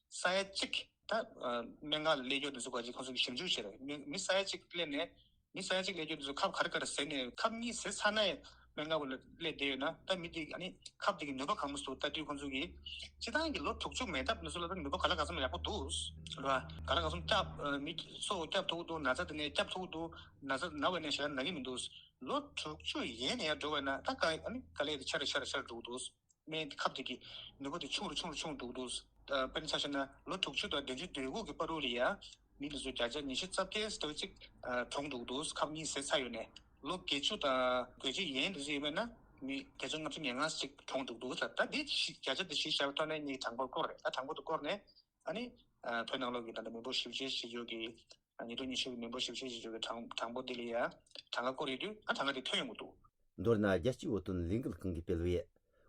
ས་ཡ་གཅིག། ད་མན་ངག་ལས་སྐྱོར་འདི་ཚོ་ཀ་ཅིག་ཁོང་ཚོ་གིས་ཞིབ་འཇུག་བྱས་རེད་མི་ས་ཡ་གཅིག་སླེབས་ནས། མི་ས་ཡ་གཅིག་ལས་སྐྱོར་འདི་ཚོ་ཁབ་གར་གར་ཟེར་ནས་ཁབ་གཉིས་ཟེར་ཚར་ནའི་མན་ངག་ལས་བསྡད་ཡོད་ན་ད་མི་འདི་ཨ་ནི་ཁབ་འདི་གི་ནུས་པ་གང་མོ་ཟུག་ལྟ་དུས་ཁོང་ཚོ་གིས། སྤྱི་བཏང་གི་ལོ་དྲུག་ཅུ་མེད་སྟབས་འདི་ཚོ་ལ་ནུས་པ་ག་ལ་ག་ཚོམ་ཡག་པོ་འདུག་རེད་བ། ག་ལ་ག་ཚོམ་སྐྱབས་མི་ཚོ་སྐྱབས་ཐུག་འདུག་ན་ཚ་འདི་ནས་སྐྱབས་ཐུག་འདུག་ན་ཚ་ན་བས་ན་ཞེ་ན་ན་གི་མི་འདུག་ལོ་དྲུག་ཅུ་ཡན་ནས་ཡར་འགྲོ་བས་ན་ད་ག་ཨ་ནི་ག་ལས་འཆར་རེ་འཆར་རེ་འཆར་འགྲོ་གི་འདུག། སྨན་གྱི་ཁབ་དེ་གི་ནུས་པ་དེ་ཆུང་རུ་ཆུང་རུ་ཆུང་འདུག་འདུག་དཔེར་ན་ཆ་ཤས་ན་ལོ་དྲུག་ཅུ་དང་བདུན་ཅུ་དུས་འགོ་གི་པར་རུ་རི་ཡ་མི་ལུས་སུ་བརྒྱ་ཆ་ཉི་ཤུ་རྩ་བརྒྱད་ཟེར་བ་ཅིག་གྲོངས་འདུག་འདུག་ཁབ་གཉིས་ཟད་ཚར་ཡོད་ནས་ལོ་བརྒྱད་ཅུ་དང་གོ་གཅིག་ཡན་ལི་རི་མེད་ན་མི་བརྒྱ་ཆ་ལྔ་བཅུ་ཉེར་ལྔ་ཟིག་གྲོངས་འདུག་འདུག་ད་དེ་བཞི་བརྒྱ་ཆ་དེ་བཞི་བཞག་པའི་ཐོག་ནས་གཉིས་གྲངས་འབོར་བསྐོར་རེད་ད་གྲངས་འབོར་དུ་བསྐོར་ནས་ཨ་ནི། བོད་ནང་ལོག་གི་ད་ལྟ་མི་འབོར་བཞི་བཅུ་ཆེ་ཞེས་བརྗོད་ཀྱི། ཉེ་དུས་ཉི་ཤུ་གི་མི་འབོར་བཞི་བཅུ་ཆེ་ཞེས་བརྗོད་ཀྱི་གྲངས་གྲངས་འབོར་དེ་ལས་ཡ། གྲངས་ཀ་བསྐུར་ཡོད་དུས་ཨ་གྲངས་ཀ་དེ་ཐོན་ཡོང་གི་འདུག། མདོར་ན་རྒྱལ་སྤྱིའི་བོད་དོན་ལས་འགུལ་ཁང་གིས་སྤེལ་བའི།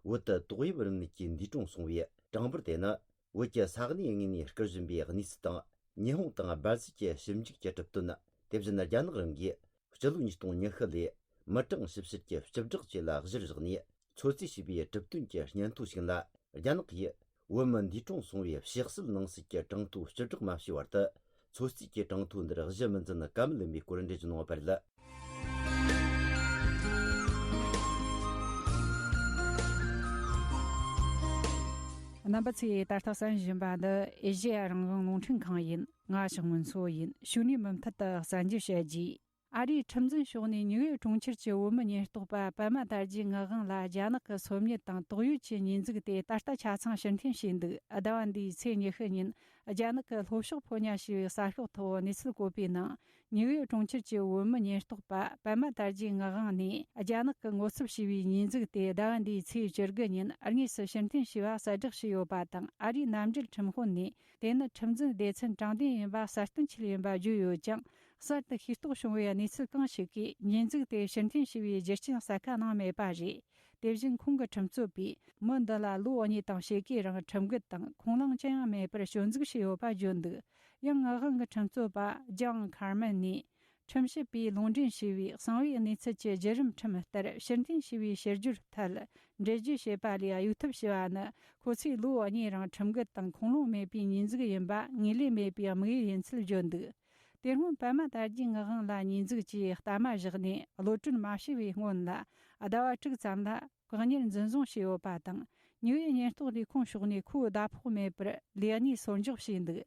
བོད་དུ་ཏོག་དབྱིབས་རིམས་ནད་ཀྱིས་འདས་གྲོངས་སོང་བའི་གྲངས་འབོར་དེ་ནི། བོད་ཀྱི་ས་གནས་ལྔས་ནས་སྐུར་བཞེངས་པའི་གནས་ཚུལ་དང། ཉི་ཧོང་དང་སྦར་ཟིལ་གྱི་ཞིབ་འཇུག་གི་གྲུབ་དོན། དེ་བཞིན་རྒྱ་ནག་རང་གིས་སྤྱི་ལོ་ཉིས་སྟོང་ཉི་ཤུ་ལོའི་མི་གྲངས་ཞིབ་བཤེར་གྱི་སྤྱི་བསྒྲགས་བཅས་ལ་གཞིར་བཞག་ནས་ཚོད་རྩིས་བྱས་པའི་གྲུབ་དོན་གྱི་སྙན་ཐོ་ཞིག་ལ་རྒྱ་ནག་གིས། བོད་མི་འདུས་གྲོངས་སོང་བའི་གཤེགས་གསོལ་ནང་སྲིད་ཀྱི་གྲངས་ཐོ་སྤྱི་བསྒྲགས་མ་བྱས་བར་དུ། ཚོད་རྩིས་ཀྱི་གྲངས་ཐོ་འདིར་གཞི་མི་འཛིན་ཀ་མི་ལེན་པའི་སྐོར་འགྲེལ་བརྗོད་གནང་བ་བར་ལ། རྣམ་པ་ཚོས་ད་ལྟ་བསམ་བཞིན་པ་འདི་ཨེ་ཤེ་ཡ་རང་བྱུང་རླུང་འཕྲིན་ཁང་ཡིན་ང་ཞིག་མིན་སོ་ཡིན་ཕྱུགས་ནས་མུ་མཐུད་དུ་གསར་འགྱུར་བཤད་རྒྱུའི། ཨ་རིའི་ཁྲིམས་འཛིན་ཕྱོགས་ནས་ཉི་འོད་གྲོང་ཁྱེར་གྱི་བོད་མི་ཉེན་རྟོག་པ་པད་མ་དར་རྒྱས་ངག་དབང་ལ་རྒྱ་ནག་གི་སོམ་ཉི་དང་དོགས་ཡོད་ཀྱི་ཉེས་འཛུགས་དེ་ད་ལྟ་ཆ་ཚང་ཕྱིར་འཐེན་བྱས་འདུག་ཟླ་བ་འདིའི་ཚེས་ཉི་ཤུ་ཉིན་རྒྱ་ནག་གི་ལྷོ་ཕྱོགས་ཕོ་ཉ་ཞེས་པའི་ས་ཕྱོགས་ཐོག་གནས་ཚུལ་བཀོད་པའི་ནང་ཉི་འོད་གྲོང་ཁྱེར་གྱི་བོད་མི་ཉེན་རྟོག་པ་པད་མ་དར་རྒྱས་ངག་དབང་ནས་རྒྱ་ནག་གི་ངོ་ཚབ་བྱས་པའི་ཉེས་འཛུགས་དེ་ཟླ་བ་འདིའི་ཚེས་བཅུ་དགུ་ཉིན་དངོས་སུ་ཕྱིར་འཐེན་བྱས་པ་གསལ་བསྒྲགས་བྱས་ཡོད་པ་དང་ཨ་རིའི་གནམ་རྒྱུད་ཁྲིམས་དཔོན་ནས་དེ་ནི་ཁྲིམས་འཛིན་སྡེ་ཚན་དྲང་བདེན་ཡིན་པ་གསལ་སྟོན་བྱས་ཡིན་པ་བརྗོད་ཡོད་ཀྱང་གསར་དུ་ཤེས་རྟོགས་བྱུང་བའི་གནས་ཚུལ་གང་ཞིག་གིས་ཉེས་འཛུགས་དེ་ཕྱིར་འཐེན་བྱས་པའི་རྒྱུ་རྐྱེན་གསལ་ཁ་གནང་མེད་པ་རེད། དེ་བཞིན་ཁོང་གི་ཁྲིམས་རྩོད་པས་མི་འདི་ལ་ལོ་གཉིས་དང་ཕྱེད་ཀའི་རིང་ཁྲིམས་འགལ་དང་ཁུངས་ལུང་ཅི་ཡང་མེད་པར་སྐྱོན་འཛུགས་བྱས་ཡོད་པ་བརྗོད་འདུག་ཡང་ངག་དབང་གི་ཁྲིམས་རྩོད་པ John Carman ནས་ཁྲིམས་ཞིབ་པས་ལུང་འདྲེན་བྱས་པའི་གསང་བའི་གནས་ཚུལ་གྱི་བརྒྱུད་རིམ་ཁྲིམས་ལྟར་ཕྱིར་འཐེན་བྱས་པའི་ཕྱིར་བསྒྱུར་ཐད་འགྲེལ་བརྗོད་བྱས་པ་ལས་གཡུག་ཐབས་བྱས་པ་ནི་ཁོ་ཚོས་ལོ་གཉིས་རིང་ཁྲིམས་འགལ་དང་ཁུངས་ལུང་མེད་པའི་ཉེས་འཛུགས་ཡིན་པ་ངེས་ལེན་མེད་པའི་དམིགས་ཡུལ་ཡིན་ཚུལ་བརྗོད་འདུག་དེ་སྔོན་པད་མ་དར་རྒྱས་ངག་དབང་ལ་ཉེས་འཛུགས་ཀྱིས་གཏའ་མ་བཞག་ནས་བློ་གྲོས་མ་ཞི་བའི་སྔོན་ལ་ཟླ་བ་དྲུག་ཙམ་ལ་བཀག་ཉར་འཛིན་བཟུང་བྱས་ཡོད་པ་དང་ཉི་འོད་ཉེན་རྟོག་ལས་ཁུངས་ཕྱོགས་ནས་ཁོའི་ཟླ་ཕོགས་མེད་པར་ལས་གནས་སོར་འཇོག་བྱས་འདུག་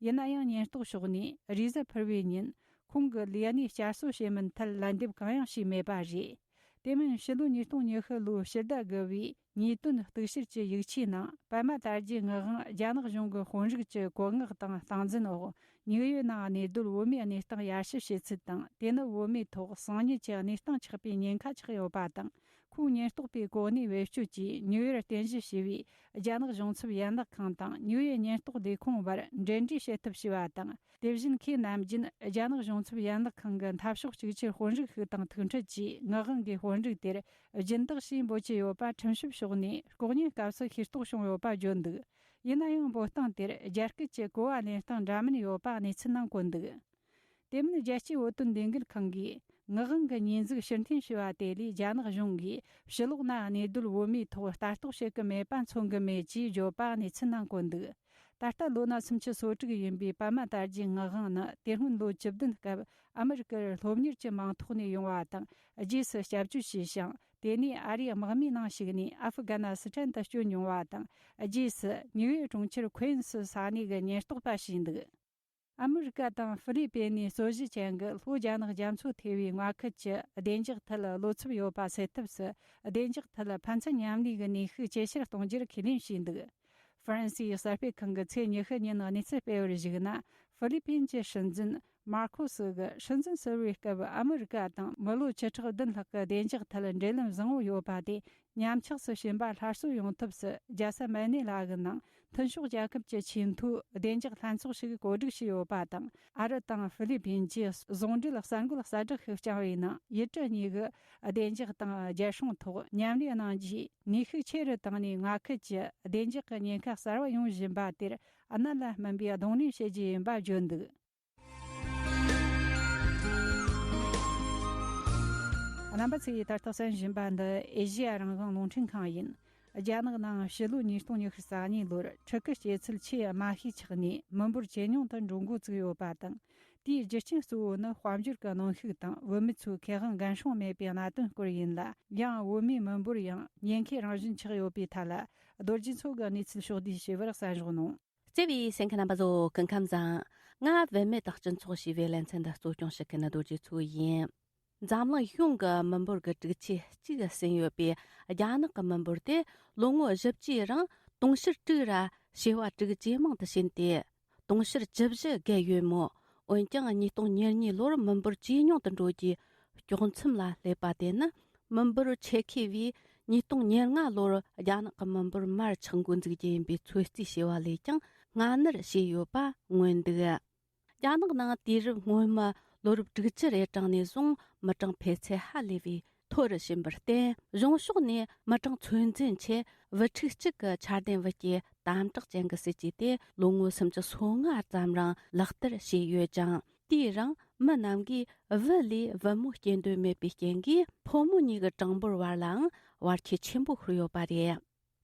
ཡིན་ན་ཡང་ཉེན་རྟོག་ཕྱོགས་ནས་རེས་གཟའ་ཕུར་བའི་ཉིན་ཁོང་གི་ལས་གནས་བསྐྱར་གསོ་བྱེད་མིན་ཐད་ལན་འདེབས་གང་ཡང་བྱས་མེད་པ་རེད། དེ་མིན་ཕྱི་ལོ་ཉིས་སྟོང་ཉི་ཤུ་ལོའི་ཕྱི་ཟླ་དགུ་བའི་ཉེས་དོན་གཏུག་བཤེར་གྱི་ཡིག་ཆའི་ནང་པད་མ་དར་རྒྱས་ངག་དབང་རྒྱ་ནག་གཞུང་གི་དཔོན་རིགས་ཀྱི་བཀོད་མངགས་དང་སྟངས་འཛིན་འོག་ཉིག་ཡོད་ནའང་གནས་སྡོད་བོད་མིའི་གནས་སྟངས་ཡར་ཞུ་བྱས་ཚུལ་དང་དེ་ནི་བོད་མིའི་ཐོག་སང་ཉིན་གྱི་གནས་སྟངས་ཆགས་པའི་ཉེན་ཁ་ཆགས་ཡོད་པ་དང་ཁོང་ཉེན་རྟོག་པའི་གོ་གནས་བེད་སྤྱོད་ཀྱིས་ཉིག་ཡོར་རྟེན་གཞི་བྱས་པའི་རྒྱ་ནག་གཞུང་ཚབ་ཡན་ལག་ཁང་དང་ཉིག་ཡོར་ཉེན་རྟོག་ལས་ཁུངས་བར་འབྲེལ་འདྲིས་བྱེད་ཐུབ་ཞེས་པ་དང་དེ་བཞིན་ཁོས་ནམ་རྒྱུན་རྒྱ་ནག་གཞུང་ཚབ་ཡན་ལག་ཁང་གི་འཐབ་ཕྱོགས་གཅིག་གྱུར་དཔོན་རིགས་ཤིག་དང་ཐུག་འཕྲད་ཀྱིས་ངག་དབང་གིས་དཔོན་རིགས་དེར་སྦྱིན་བདག་ཞེས་འབོད་ཀྱི་ཡོད་པ་ཁྲིམས་ཞིབ་ཕྱོགས་ནས་ལྐོག་ཉན་སྐབས་སུ་ཤེས་རྟོགས་བྱུང་ཡོད་པ་བརྗོད་འདུག་ཡིན་ན་ཡང་འབོད་སྟངས་དེར་རྒྱ་སྐད་ཀྱི་གོ་བ་ལེན་སྟངས་འདྲ་མིན་ཡོད་པ་གནས་ཚུལ་ནང་བཀོད་འདུག་དེ་མིན་རྒྱལ་སྤྱིའི་བོད་དོན་ལས་འགུལ་ཁང་གིས་ངག་དབང་གི་ཉེས་འཛུགས་ཕྱིར་འཐེན་ཞུས་པ་དེ་ལས་རྒྱ་ནག་གཞུང་གིས་ཕྱི་ལོགས་ན་གནས་སྡོད་བོད་མིའི་ཐོག་ལྟ་རྟོག་བྱེད་ཀྱི་མེད་པ་མཚོན་གྱི་མེད་ཅེས་བརྗོད་པ་གནས་ཚུལ་ནང་བཀོད་འདུག་ད་ལྟ་ལོ་ན་སུམ་ཅུ་སོ་དྲུག་ཡིན་པའི་པདྨ་དར་རྒྱས་ངག་དབང་ནི་དེ་སྔོན་ལོ་བཅུ་བདུན་སྐབས་ཨ་མི་རི་ཀར་སློབ་གཉེར་གྱི་མིང་ཐོག་ནས་ཡོང་བ་དང་རྗེས་སུ་སྐྱབས་བཅོལ་བྱས་ཤིང་དེ་ནས་ཨ་རིའི་དམག་མིའི་ནང་ཞུགས་ནས་ཨ་ཧྥི་ག་ན་སི་ཐན་དུ་བསྐྱོད་མྱོང་བ་དང་རྗེས་སུ་ནིའུ་ཡོག་གྲོང་ཁྱེར་ཁོའེ་ཨིན་སི་ས་གནས་ཀྱི་ཉེན་རྟོག་པ་བྱས་འདུག་ཨ་མི་རི་ཀ་དང་ཧྥི་ལི་པེན་ནས་རྩོད་གཞི་ཅན་གྱི་ལྷོ་རྒྱ་ནག་རྒྱ་མཚོ་ཐེ་བའི་མངའ་ཁུལ་གྱི་བདེ་འཇགས་ཐད་བློ་འཚབ་ཡོད་པ་སེལ་ཐབས་སུ་བདེ་འཇགས་ཐད་ཕན་ཚུན་མཉམ་ལས་ཀྱི་ནུས་ཤུགས་ཇེ་ཆེར་གཏོང་རྒྱུར་ཁས་ལེན་བྱས་འདུག་ཧྥ་རན་སིའི་གསར་སྤེལ་ཁང་གི་ཚེས་ཉི་ཤུ་ཉིན་གནས་ཚུལ་སྤེལ་བར་གཞིགས་ན་ཧྥི་ལི་པེན་གྱི་སྲིད་འཛིན་མར་ཁོ་སི་གིས་སྲིད་འཛིན་ཟེར་བའི་སྐབས་ཨ་མི་རི་ཀ་དང་མི་ལོ་བཅུ་ཕྲག་བདུན་ལྷག་གི་བདེ་འཇགས་ཐད་འབྲེལ་ལམ་བཟང་བོ་ཡོད་པ་དེ་ཉམས་ཆགས་སུ་ཕྱིན་པ་སླར་གསོ་ཡོང་ཐབས་སུ་རྒྱལ་ས་མན་ནེ་ལ་གི་ནང་མཐུན་ཕྱོགས་རྒྱལ་ཁབ་ཀྱི་ཆེས་མཐོའི་བདེ་འཇགས་ལྷན་ཚོགས་ཤིག་གོ་སྒྲིག་བྱས་ཡོད་པ་དང་ཨ་རི་དང་ཧྥི་ལི་པིན་གྱི་ཟུང་འབྲེལ་གསར་འགོད་གསལ་བསྒྲགས་ཤིག་བསྐྱངས་པའི་ནང་ཡུལ་གྲུ་གཉིས་ཀྱི་བདེ་འཇགས་དང་རྒྱལ་སྲུང་ཐོག་མཉམ་ལས་གནང་རྒྱུའི་ནུས་ཤུགས་ཆེ་རུ་བཏང་ནས་མངའ་ཁུལ་གྱི་བདེ་འཇགས་ཀྱི་ཉེན་ཁ་གསར་བ་ཡོང་བཞིན་པ་དེར་གནད་ལ་སྨིན་པའི་གདོང་ལེན་བྱེད་རྒྱུ་ཡིན་པ་བརྗོད་འདུག། རྣམ་པ་ཚོས་ད་ལྟ་གསན་བཞིན་པ་འདི་ཨེ་ཞི་ཡ་རང་བྱུང་རླུང་འཕྲིན་ཁང་ཡིན། རྒྱ་ནག་ནང་ཕྱི་ལོའི་ཉིས་སྟོང་ཉི་ཤུ་རྩ་གཉིས་ལོར་ཕྲུ་གུ་སྐྱེ་ཚུལ་ཆེས་དམའ་ཤོས་ཆགས་ནས་མི་འབོར་ཇེ་ཉུང་དུ་འགྲོ་འགོ་བཙུགས་ཡོད་པ་དང་དེའི་རྒྱུ་རྐྱེན་གཙོ་བོ་ནི་དཔལ་འབྱོར་གྱི་གནོན་ཤུགས་དང་བུད་མེད་ཚོའི་ཁེ་དབང་འགན་སྲུང་མེད་པའི་གནད་དོན་སྐོར་ཡིན་ལ། ཡང་བུད་མེད་མི་འབོར་ཡང་ཉེན་ཁའི་རང་བཞིན་ཆགས་ཡོད་པའི་ཐད་ལ་རྡོ་རྗེ་མཚོ་གིས་གནས་ཚུལ་ཕྱོགས་བསྡུས་ཞིབ་པར་གསན་བཞག་གནང། བརྩེ་བའི་སེང་གེ་རྣམ་པ་ཚོ་སྐུ་ཁམས་བཟང། ང་བུད་མེད་དང་སྤྱི་ཚོགས་ཞེས་པའི་བརླན་ཚེ་འདི་གཙོ་སྐྱོང་བྱེད་མཁན་ནི་རྡོ་རྗེ་ཚུལ་ཡིན། འཛམ་གླིང་གཞུང་གི་མི་འབོར་གྱི་དྲུག་ཆའི་གཅིག་ཟིན་ཡོད་པའི་རྒྱ་ནག་གི་མི་འབོར་དེ་ལོ་ངོ་བཞི་བཅུའི་རིང་དུང་ཕྱུར་དྲུག་ར་བྱེ་བ་དྲུག་ཇེ་མང་དུ་ཕྱིན་ཏེ། དུང་ཕྱུར་བཅུ་བཞི་བརྒལ་ཡོད་མོད། འོན་ཀྱང་ཉིས་སྟོང་ཉེར་གཉིས་ལོར་མི་འབོར་ཇེ་ཉུང་དུ་འགྲོ་རྒྱུའི་སྐྱོག་མཚམས་ལ་སླེབས་པ་དེ་ནི་མི་འབོར་ཆེ་ཁེ་བས་ཉིས་སྟོང་ཉེར་ལྔ་ལོར་རྒྱ་ནག་གི་མི་འབོར་མར་ཆག་འགོ་འཛུགས་རྒྱུ་ཡིན་པའི་ཚོད་རྩིས་བྱས་པ་ལས་ཀྱང་སྔ་སྣུར་བྱས་ཡོད་པ་མངོན་འདུག་རྒྱ་ནག་ནང་དུས་རབས་སྔོན་མའི་ལོ་རབས་དྲུག་ཅུ་རེ་གྲངས་ནས་བཟུང་མི་གྲངས་འཕེལ་ཚད་ཧ་ལས་པའི་མཐོ་རུ་ཕྱིན་པར་བརྟེན་གཞུང་ཕྱོགས་ནས་མི་གྲངས་ཚོད་འཛིན་ཆེད་བུ་ཕྲུག་གཅིག་གི་འཆར་ལྡན་བུ་སྐྱེས་དམ་དྲག་ཅན་གྱི་སྲིད་ཇུས་དེ་ལོ་ངོ་སུམ་ཅུ་སོ་ལྔ་ཙམ་རིང་ལག་བསྟར་བྱས་ཡོད་ཀྱང། དེའི་རིང་མི་རྣམས་ཀྱིས་བུ་ལས་བུ་མོ་སྐྱེ་འདོད་མེད་པའི་རྐྱེན་གྱིས་ཕོ་མོ་གཉིས་ཀྱི་གྲངས་འབོར་བར་ལའང་བར་ཁྱད་ཆེན་པོ་ཤོར་ཡོད་པ་རེད།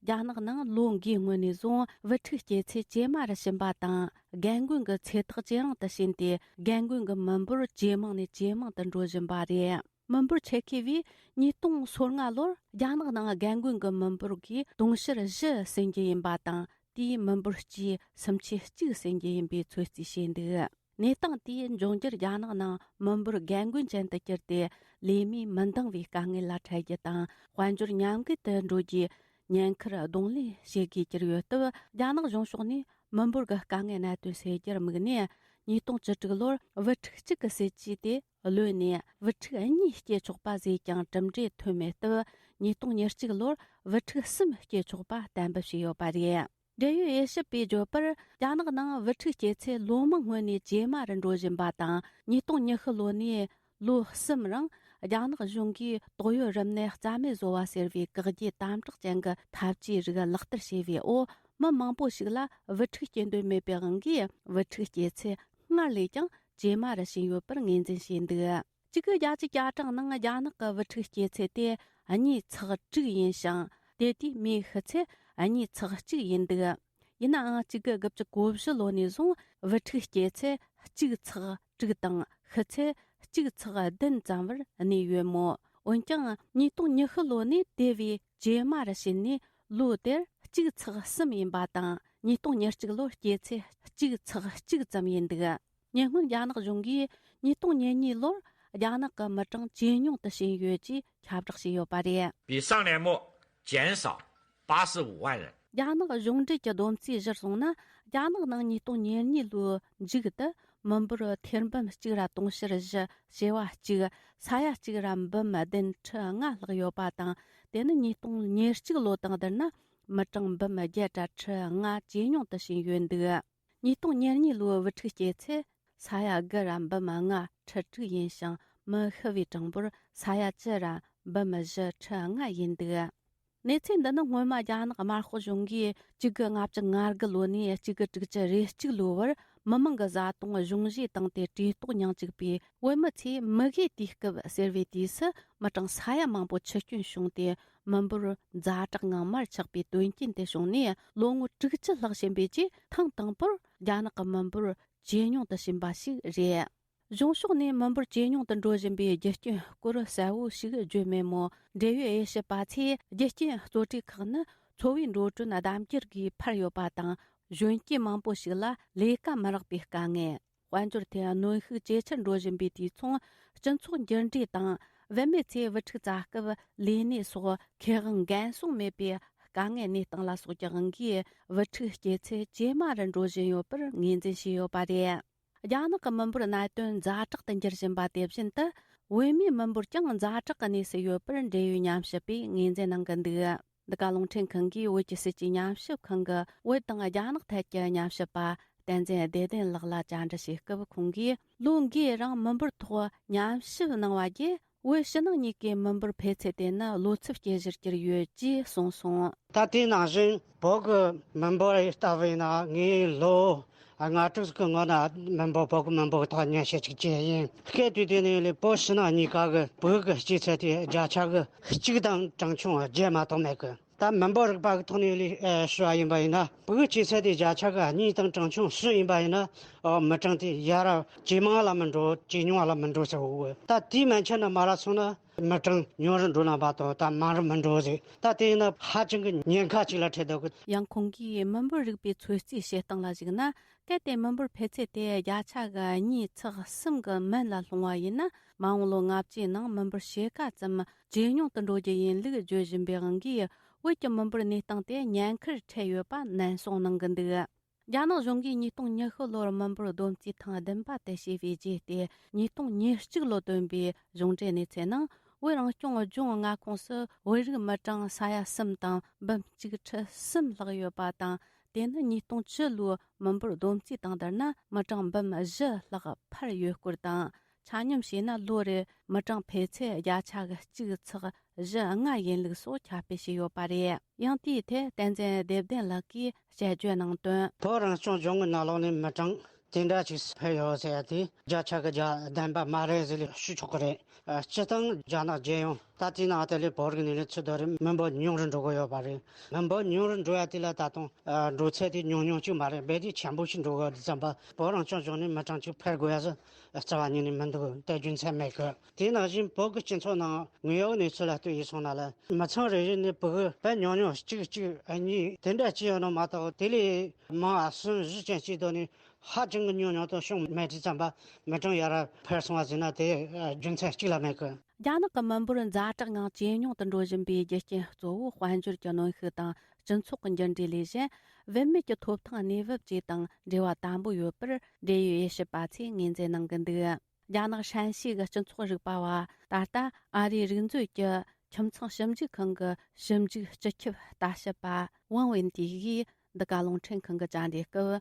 རྒྱ་ནག་ནང་ལོ་འགའི་སྔོན་ནས་བཟུང་བུ་ཕྲུག་སྐྱེ་ཚད་ཇེ་དམའ་རུ་ཕྱིན་པ་དང་རྒན་རྒོན་གྱི་ཚེ་ཐག་ཇེ་རིང་དུ་ཕྱིན་ཏེ་རྒན་རྒོན་གྱི་མི་འབོར་ཇེ་མང་ནས་ཇེ་མང་དུ་འགྲོ་བཞིན་པ་རེད། མི་འབོར་ཆེ་ཤོས་པའི་ཉིས་སྟོང་སོ་ལྔ་ལོར་རྒྱ་ནག་ནང་རྒན་རྒོན་གྱི་མི་འབོར་གྱི་དུང་ཕྱུར་བཞི་ཟིན་རྒྱུ་ཡིན་པ་དང་དེའི་མི་འབོར་གྱི་སུམ་ཆའི་གཅིག་ཟིན་རྒྱུ་ཡིན་པའི་ཚོད་རྩིས་བྱས་འདུག་གནས་སྟངས་དེ་འབྱུང་རྒྱུར་རྒྱ་ནག་ནང་མི་འབོར་རྒན་རྒོན་ཅན་དུ་གྱུར་ཏེ་ལས་མིས་མི་འདང་བའི་དཀའ་ངལ་ལ་འཕྲད་རྒྱུ་དང་དཔལ་འབྱོར་ཉམས་རྒུད་དུ་འགྲོ་རྒྱུའི་ཉེན་ཁར་གདོང་ལེན་བྱེད་དགོས་གྱུར་ཡོད་སྟབས་རྒྱ་ནག་གཞུང་ཕྱོགས་ནས་མི་འབོར་གྱི་དཀའ་ངལ་གནད་དོན་སེལ་རྒྱུར་དམིགས་ནས་ཉིས་སྟོང་བཅུ་དྲུག་ལོར་བུ་ཕྲུག་གཅིག་གི་སྲིད་ཇུས་དེ་གློད་ནས་བུ་ཕྲུག་གཉིས་སྐྱེ་ཆོག་པ་བཟོས་ཀྱང་གྲུབ་འབྲས་ཐོན་མེད་སྟབས་ཉིས་སྟོང་ཉེར་གཅིག་ལོར་བུ་ཕྲུག་གསུམ་སྐྱེ་ཆོག་པ་གཏན་འབེབས་བྱས་ཡོད་པ་རེད། འབྲེལ་ཡོད་དབྱེ་ཞིབ་པས་བརྗོད་པར་རྒྱ་ནག་ནང་བུ་ཕྲུག་སྐྱེ་ཚད་ལོ་མང་སྔོན་ནས་ཇེ་དམའ་རུ་འགྲོ་བཞིན་པ་དང་ཉིས་སྟོང་ཉི་ཤུ་ལོ་ནས་ལོ་གསུམ་རིང་རྒྱ་ནག་གཞུང་གིས་དོགས་ཡོད་རིམས་ནད་རྩ་མེད་བཟོ་བ་ཟེར་བའི་བཀག་རྒྱའི་དམ་དྲག་ཅན་གྱི་ཐབས་ཇུས་རིགས་ལག་བསྟར་བྱས་པའི་འོག་མི་མང་པོ་ཞིག་ལ་བུ་ཕྲུག་སྐྱེ་འདོད་མེད་པའི་དབང་གིས་བུ་ཕྲུག་སྐྱེ་ཚད་སྔར་ལས་ཀྱང་ཇེ་དམའ་རུ་ཕྱིན་ཡོད་པར་ངོས་འཛིན་བྱས་འདུག་གཅིག་གིས་རྒྱལ་སྤྱིའི་བཅའ་ཁྲིམས་ནང་རྒྱ་ནག་གི་དབུ་ཁྲིད་སྐྱེས་ཚད་དེ་གཉིས་ཚགས་དྲུག་ཡིན་ཞིང་དེ་དུས་མིའི་ཤི་ཚད་གཉིས་ཚགས་གཅིག་ཡིན་འདུག་ཡིན་ནའང་གཅིག་གི་དགུ་བཅུ་གོ་བཞི་ལོ་ནས་བཟུང་དབུ་ཁྲིད་སྐྱེས་ཚད་གཅིག་ཚགས་དྲུག་དང་ཤི་ཚད་གཅིག་ཚགས་བདུན་ཙམ་བར་གནས་ཡོད་མོད་འོན་ཀྱང་ཉིས་སྟོང་ཉི་ཤུ་ལོ་ནས་དེ་བས་བྱེ་མར་བྱིན་ནས་ལོ་དེར་གཅིག་ཚགས་གསུམ་ཡིན་པ་དང་ཉིས་སྟོང་ཉེར་གཅིག་ལོར་སྐྱེས་ཚེ་གཅིག་ཚགས་གཅིག་ཙམ་ཡིན་འདུག་ཉེ་སྔོན་རྒྱ་ནག་གཞུང་གིས་ཉིས་སྟོང་ཉེར་གཉིས་ལོར་རྒྱ་ནག་གི་མི་གྲངས་ཇེ་ཉུང་དུ་ཕྱིན་ཡོད་ཅེས་ཁྱབ་བསྒྲགས་བྱས་ཡོད་པ་རེད། བའི་ས་ལེབ་མོ་ཅན་སོགས་སྤ་སེ་དབལ། རྒྱ་ནག་གཞུང་འབྲེལ་གྱི་བསྡོམས་རྩིས་གཞིར་བཟུང་ན་རྒྱ་ནག་ནང་ཉིས་སྟོང་ཉེར་གཉིས་ལོའི་མཇུག་ཏུ་མི་འབོར་ཐེར་འབུམ་གཅིག་ར་དུང་ཕྱུར་བཞི་བྱེ་བ་གཅིག་ས་ཡ་གཅིག་ར་འབུམ་བདུན་ཁྲི་ལྔ་ལྷག་ཡོད་པ་དང་དེ་ནི་ཉིས་སྟོང་ཉེར་གཅིག་ལོ་དང་བསྡུར་ན་མི་གྲངས་འབུམ་བརྒྱད་བརྒྱ་ཁྲི་ལྔ་ཇེ་ཉུང་དུ་ཕྱིན་ཡོད་འདུག། ཉིས་སྟོང་ཉེར་གཉིས་ལོའི་དབུ་ཁྲིད་སྐྱེལ་ཚེ་ས་ཡ་དགུ་རམ་འབུམ་ལྔ་ཁྲི་དྲུག་ཡིན་ཞིང་མི་ཤི་བའི་གྲངས་འབོར་ས་ཡ་བཅུ་རམ་འབུམ་བཞི་ཁྲི་ལྔ་ཡིན་འདུག་གནས་ཚུལ་འདི་ནི་སྔོན་མ་རྒྱ་ནག་དམར་ཤོག་གཞུང་གིས་གཅིག་གི་ལྔ་བཅུ་ང་དགུ་ལོ་ནས་གཅིག་གི་དྲུག་ཅུ་རེ་གཅིག་ལོའི་བར་མི་མང་གི་བཟའ་བཏུང་གཞུང་བཞེས་བཏང་སྟེ་གྲོས་གཏོགས་མྱང་བཅུག་པའི་བོད་མི་ཚོས་མི་དགོས་དུས་སྐབས་ཟེར་བའི་དུས་སུ་མི་གྲངས་ས་ཡ་མང་པོ་ཆུ་སྐྱོན་བྱུང་སྟེ་མི་འབོར་ཛ་དྲག་ངང་མར་ཆག་པའི་དོན་རྐྱེན་དེ་བྱུང་ནས་ལོ་ངོ་དྲུག་བཅུ་ལྷག་ཕྱིན་པའི་རྗེས་ཐེངས་དང་པོར་རྒྱ་ནག་གི་མི་འབོར་ཇེ་ཉུང་དུ་ཕྱིན་པ་ཞིག་རེད། གཞུང་ཕྱོགས་ནས་མི་འབོར་ཇེ་ཉུང་དུ་འགྲོ་བཞིན་པའི་རྒྱུ་རྐྱེན་སྐོར་གསལ་བོ་ཞིག་བརྗོད་མེད་མོད་འབྲེལ་ཡོད་དབྱེ་ཞིབ་པ་ཚོས་རྒྱུ་རྐྱེན་གཙོ་གྲས་ཁག་ནི་འཚོ་བའི་འགྲོ་གྲོན་ལྡབ་འགྱུར་སྒོས་འཕར་ཡོད་པ་དང་གཞོན་སྐྱེས་མང་པོ་ཞིག་ལ་ལས་ཀ་མི་རག་པའི་དཀའ་ངལ། དཔལ་འབྱོར་ཐད་གནོན་ཤུགས་ཇེ་ཆེར་འགྲོ་བཞིན་པའི་དུས་མཚུངས་སྤྱི་ཚོགས་འགྱུར་འགྲོས་དང་བུད་མེད་ཚོས་བུ་ཕྲུག་བཙའ་སྐབས་ལས་གནས་སོགས་ཁེ་དབང་འགན་སྲུང་མེད་པའི་དཀའ་ངལ་གནས་སྟངས་ལ་སོགས་ཀྱི་དབང་གིས་བུ་ཕྲུག་སྐྱེས་ཚད་ཇེ་དམའ་རུ་འགྲོ་བཞིན་ཡོད་པར་ངོས་འཛིན་བྱས་ཡོད་པ་རེད། རྒྱ་ནག་གི་མི་འབོར་གནད་དོན་ཛ་དྲག་ཏུ་འགྱུར་བཞིན་པ་དེ་བཞིན་དུ་བུད་མེད་མི་འབོར་ཀྱང་ཛ་དྲག་གི་གནས་སུ་ཡོད་པར་འབྲེལ་ཡོད་ཉམས་ཞིབ་པས་ངོས་འཛིན་གནང་གི་འདུག། འདི་ག་རླུང་འཕྲིན་ཁང་གིས་བོད་ཀྱི་སྲིད་ཀྱི་ཉམས་ཞིབ་ཁང་གི་བོད་དང་རྒྱ་ནག་ཐད་ཀྱི་ཉམས་ཞིབ་པ་བསྟན་འཛིན་བདེ་ལྡན་ལགས་ལ་བཅར་འདྲི་བྱས་སྐབས་ཁོང་གིས་ལོ་འགའི་རིང་མི་འབོར་ཐོག་ཉམས་ཞིབ་གནང་བ་བརྒྱུད་བོད་ཕྱི་ནང་གཉིས་ཀའི་མི་འབོར་འཕེལ་ཚད་དེ་ནི་ལོ་ཚིགས་སྐྱེལ་གཞིར་གྱུར་ཡོད་ཅེས་གསུངས་སོང། ད་ལྟའི་ནང་བཞིན་བོད་ཀྱི་མི་འབོར་ལྟ་བས་ན་ངས་ལོ་སྔ་དྲོས་ཀྱི་ངོ་ན་མི་འབོར་བོད་མི་འབོར་ཐ་སྙད་ཤེས་ཚིག་ཅན་ཡིན་སྐད་དུས་དེ་ནས་ལས་བོད་ཕྱི་ནང་གཉིས་ཀ་གི་བོད་ཀྱི་སྐྱེས་ཚད་དེ་བརྒྱ་ཆ་གི་གཅིག་དང་གྲངས་ཆུང་བ་བརྒྱད་མ་གཏོགས་མེད་གི་ད་མི་འབོར་རིག་པ་གི་ཐོག་ནས་ལས་ཞུ་བ་ཡིན་པ་ཡིན་ན་བོད་སྐྱེས་ཚད་དེ་བརྒྱ་ཆ་གི་གཉིས་དང་གྲངས་ཆུང་བཞི་ཡིན་པ་ཡིན་ན་འོ་མི་གྲངས་དེ་ཡར་ཇེ་མང་ལ་མི་འགྲོ་ཇེ་ཉུང་ལ་མི་འགྲོ་ཟེར་བའོ་ད་དེའི་མན་ཆད་ན་མ་ར་སོང་ན། མི་གྲངས་ཉུང་རུ་འགྲོ་ན་བ་དང་ད་མང་རུ་མི་འགྲོ་བ་རེད་ད་དེ་ཡིན་ན་ཧ་ཅང་གི་ཉེན་ཁ་ཅིག་ལ་འཕྲད་འདུག། ཡང་ཁོང་གིས་མི་འབོར་རིག་པའི་ཚོད་རྩིས་བྱེད་སྟངས་ལ་གཞིགས་ན་གལ་ཏེ་མི་འབོར་འཕེལ་ཚད་དེ་བརྒྱ་ཆ་གི་གཉིས་ཚེག་གསུམ་གྱི་མན་ལ་ལྷུང་བ་ཡིན་ན་མ་འོངས་ལོ་ལྔ་བཅུའི་ནང་མི་འབོར་ཕྱེད་ཀ་ཙམ་ཇེ་ཉུང་དུ་འགྲོ་རྒྱུ་ཡིན་ལུགས་བརྗོད་བཞིན་པའི་དབང་གིས་བོད་ཀྱི་མི་འབོར་གནས་སྟངས་དེ་ཉེན་ཁར་འཕྲད་ཡོད་པ་ནན་གསུངས་གནང་གི་འདུག། རྒྱ་ནག་གཞུང་གིས་ཉིས་སྟོང་ཉི་ཤུ་ལོར་མི་འབོར་བསྡོམས་རྩིས་ཐེངས་བདུན་པ་དེ་བྱས་པའི་རྗེས་ཏེ་ཉིས་སྟོང་ཉེར་གཅིག་ལོར་བཏོན་པའི་གཞུང་འབྲེལ་གནས་ཚད་ནང་བོད་རང་སྐྱོང་ལྗོངས་མངའ་ཁོངས་སུ་བོད་རིགས་མི་གྲངས་ས་ཡ་གསུམ་དང་འབུམ་གཅིག་ཁྲི་གསུམ་ལྷག་ཡོད་པ་དང་དེ་ནི་ཉིས་སྟོང་བཅུ་ལོའི་མི་འབོར་བསྡོམས་རྩིས་དང་བསྡུར་ན་མི་གྲངས་འབུམ་བཞི་ལྷག་འཕར་ཡོད་སྐོར་དང་ཆ་སྙོམས་བྱས་ན་ལོ་རེར་མི་གྲངས་འཕེལ་ཚད་བརྒྱ་ཆ་གི་གཅིག་ཚགས་བཞི་ལྔ་ཡིན་ལུགས་སོགས་ཁྱབ་སྤེལ་བྱས་ཡོད་པ་རེད་ཡང་དེའི་ཐད་བསྟན་འཛིན་བདེ་ལྡན་ལགས་ཀྱིས་དཔྱད་བརྗོད་གནང་དོན། བོད་རང་སྐྱོང་ལྗོངས་ཀྱི་ནགས་ལོགས་ནས་མི་གྲངས་དེ་འདྲ་ཞིག་འཕེལ་ཡོད་ཟེར་ཡ་དེ་བརྒྱ་ཆ་གི་བརྒྱ་བདེན་པ་མ་རེད་ཟེར་ལས་ཤོད་ཆོག་གི་རེད། སྤྱི་བཏང་རྒྱ་ནག་རྒྱལ་ཡོངས་ད་ལྟའི་ནང་དེ་ལས་བོད་རིགས་ནས་ལས་ཚོད་དོ་རེད་མི་འབོར་ཉུང་རུ་འགྲོ་གི་ཡོད་པ་རེད་མི་འབོར་ཉུང་རུ་འགྲོ་ཡ་དེ་ལ་ད་དུང་འགྲོ་ཚད་དེ་ཉུང་ཉུང་ཅིག་མ་རེད་རྦད་དེ་ཆེན་པོ་ཞིག་འགྲོ་གི་རེད་བསམ་པ་བོད་རང་སྐྱོང་ལྗོངས་ནས་མི་གྲངས་ཅིག་འཕེལ་དགོས་ཡ་ཟེར་རྩ་བ་ཉིད་ནས་མི་འདུག་དེ་རྒྱུ་མཚན་མེད་གི། དེའི་ནང་བཞིན་བོད་ཀྱི་སྤྱི་ཚོགས་ནང་དངོས་ཡོད་གནས་ཚུལ་ལ་ལྟོས་ཡིན་སོང་ན་ལ་མི་ཚང་རེ་རེ་ནས་བོད་པའི་ཉུང་ཉུང་གཅིག་གཅིག་གཉིས་དེ་འདྲ་ཅི་ཡོད་ནོ་མ་གཏོགས་དེ་ལས་མང་བ་གསུམ་བཞི་ཅན་སྤྱི་དོན་ནི་ཧ་ཅང་གི་ཉུང་ཉུང་དང་ཤོང་མེད་དྲི་ཙམ་པ་མི་གྲངས་ཡར་འཕར་སོང་བ་ཟིན་ན་དེ་རྒྱུ་མཚན་གཅིག་ལ་མེད་གི། རྒྱ་ནག་གི་མི་འབོར་ཛ་དྲག་ངང་ཇེ་ཉུང་དུ་འགྲོ་བཞིན་པའི་རྒྱུ་རྐྱེན་གཙོ་བོ་དཔལ་འབྱོར་གྱི་གནོན་ཤུགས་དང་སྤྱི་ཚོགས་ཀྱི་འགྱུར་འགྲོས་ལས་གཞན། བུད་མེད་ཀྱི་ཐོབ་ཐང་གནས་བབ་བཅས་དང་འབྲེལ་བ་དམ་པོ་ཡོད་པར་འབྲེལ་ཡོད་དབྱེ་ཞིབ་པ་ཚོས་ངོས་འཛིན་གནང་གི་འདུག་རྒྱ་ནག་ཧྲན་ཞི་གི་སྤྱི་ཚོགས་རིག་པ་བ་ད་ལྟ་ཨ་རིའི་རིག་མཛོད་ཀྱི་ཁྱིམ་ཚང་ཞིབ་འཇུག་ཁང་གི་ཞིབ་འཇུག་སྤྱི་ཁྱབ་ལྟ་ཞིབ་པ་ཝང་ཝེན་ཏི་ཡིས་འདི་ག་རླུང་འཕྲིན་ཁང་གི་བཅར་འདྲི་སྐབས།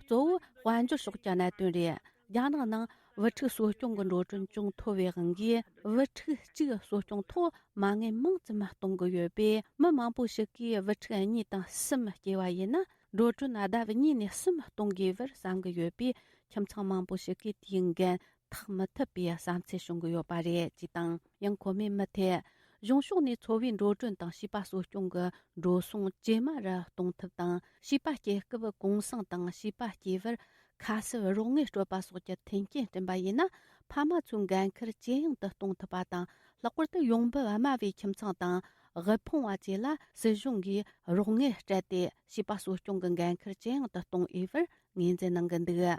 གཙོ་བོ་དཔལ་འབྱོར་ཕྱོགས་ཀྱི་གནད་དོན་རེད། རྒྱ་ནག་ནང་བུ་ཕྲུག་གསོ་སྐྱོང་གི་འགྲོ་གྲོན་ཅུང་མཐོ་བའི་དབང་གིས་བུ་ཕྲུག་གཅིག་གསོ་སྐྱོང་ཐོག་མ་དངུལ་མང་ཙམ་གཏོང་གི་ཡོད་པས་མི་མང་པོ་ཞིག་གིས་བུ་ཕྲུག་གཉིས་དང་གསུམ་སྐྱེས་པ་ཡིན་ན་འགྲོ་གྲོན་ལྡབ་གཉིས་ནས་གསུམ་གཏོང་དགོས་པར་བསམ་གྱི་ཡོད་པས་ཁྱིམ་ཚང་མང་པོ་ཞིག་གིས་དེའི་འགན་ཐག་མི་ཐུབ་པའི་བསམ་ཚུལ་བྱུང་གི་ཡོད་པ་རེད་ཅེས་དང་ཡང་ཁོ་མོས་མུ་མཐུད་གཞུང་ཕྱོགས་ནས་འཚོ་བའི་འགྲོ་གྲོན་དང་བྱིས་པ་གསོ་སྐྱོང་གི་འགྲོ་སོང་ཇེ་དམའ་རུ་གཏོང་ཐབས་དང་བྱིས་པ་སྐྱེ་སྐབས་གུང་སེང་དང་བྱིས་པ་སྐྱེས་པར་ཁ་གསབ་རོགས་དངུལ་སྤྲོད་པ་སོགས་ཀྱི་མཐུན་རྐྱེན་བསྐྲུན་པ་ཡིན་ན་ཕ་མ་ཚོའི་འགན་འཁུར་ཇེ་ཡང་དུ་གཏོང་ཐུབ་པ་དང་ལྷག་པར་དུ་ཡོང་འབབ་དམའ་བའི་ཁྱིམ་ཚང་དང་དབུལ་ཕོངས་བ་བཅས་ལ་སྲིད་གཞུང་གིས་རོགས་དངུལ་སྤྲད་དེ་བྱིས་པ་གསོ་སྐྱོང་གི་འགན་འཁུར་ཇེ་ཡང་དུ་གཏོང་འོས་པར་ངོས་འཛིན་གནང་གི་འདུག།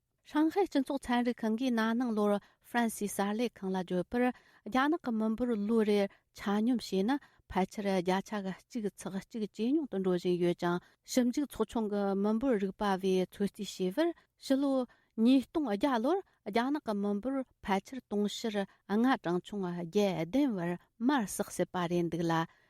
ཧྲང་ཧའེ་སྤྱི་ཚོགས་ཚན་རིག་ཁང་གིས་ན་ནིང་ལོར་ཧྥ་རན་སིའི་གསར་ལས་ཁང་ལ་བརྗོད་པར་རྒྱ་ནག་གི་མི་འབོར་ལོ་རེར་ཆ་སྙོམས་བྱས་ན་ཕལ་ཆེར་བརྒྱ་ཆ་ག་གཅིག་ཚེག་གཅིག་ཇེ་ཉུང་དུ་འགྲོ་བཞིན་ཡོད་ཅིང་ཞིབ་འཇུག་ཚོགས་ཆུང་གི་མི་འབོར་རིག་པ་བས་ཚོད་རྩིས་བྱས་པར་ཕྱི་ལོ་ཉིས་སྟོང་བརྒྱ་ལོར་རྒྱ་ནག་གི་མི་འབོར་ཕལ་ཆེར་དུང་ཕྱུར་ལྔ་གྲངས་ཆུང་བརྒྱད་ལྡན་བར་མར་བསགས་སྲིད་པ་རེད་འདུག་ལ་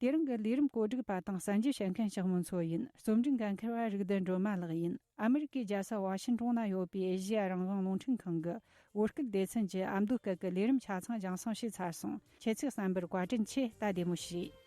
དེ་རིང་གི་ལས་རིམ་བཀོད་སྒྲིག་པ་དང་གསན་རྒྱུ་བྱེད་མཁན་ཞིག་མིན་ཚོད་ཡིན་རྩོམ་སྒྲིག་འགན་འཁུར་བ་རིག་ལྡན་སྒྲོལ་མ་ལགས་ཡིན་ཨ་མི་རི་ཀའི་རྒྱལ་ས་བྷ་ཤིན་ཀྲོང་ན་ཡོད་པའི་ཨེ་ཤི་ཡ་རང་བྱུང་རླུང་འཕྲིན་ཁང་གི་དབུ་སྐུལ་སྡེ་ཚན་གྱི་ཨ་མདོ་སྐད་ཀྱི་ལས་རིམ་ཆ་ཚང་སྦྱངས་སོང་ཞེས་ཚར་སོང་ཁྱེད་ཚོའི་བསམ་པར་བཀའ་དྲིན་ཆེ་ལྟ་བདེ་མོ་བྱོས།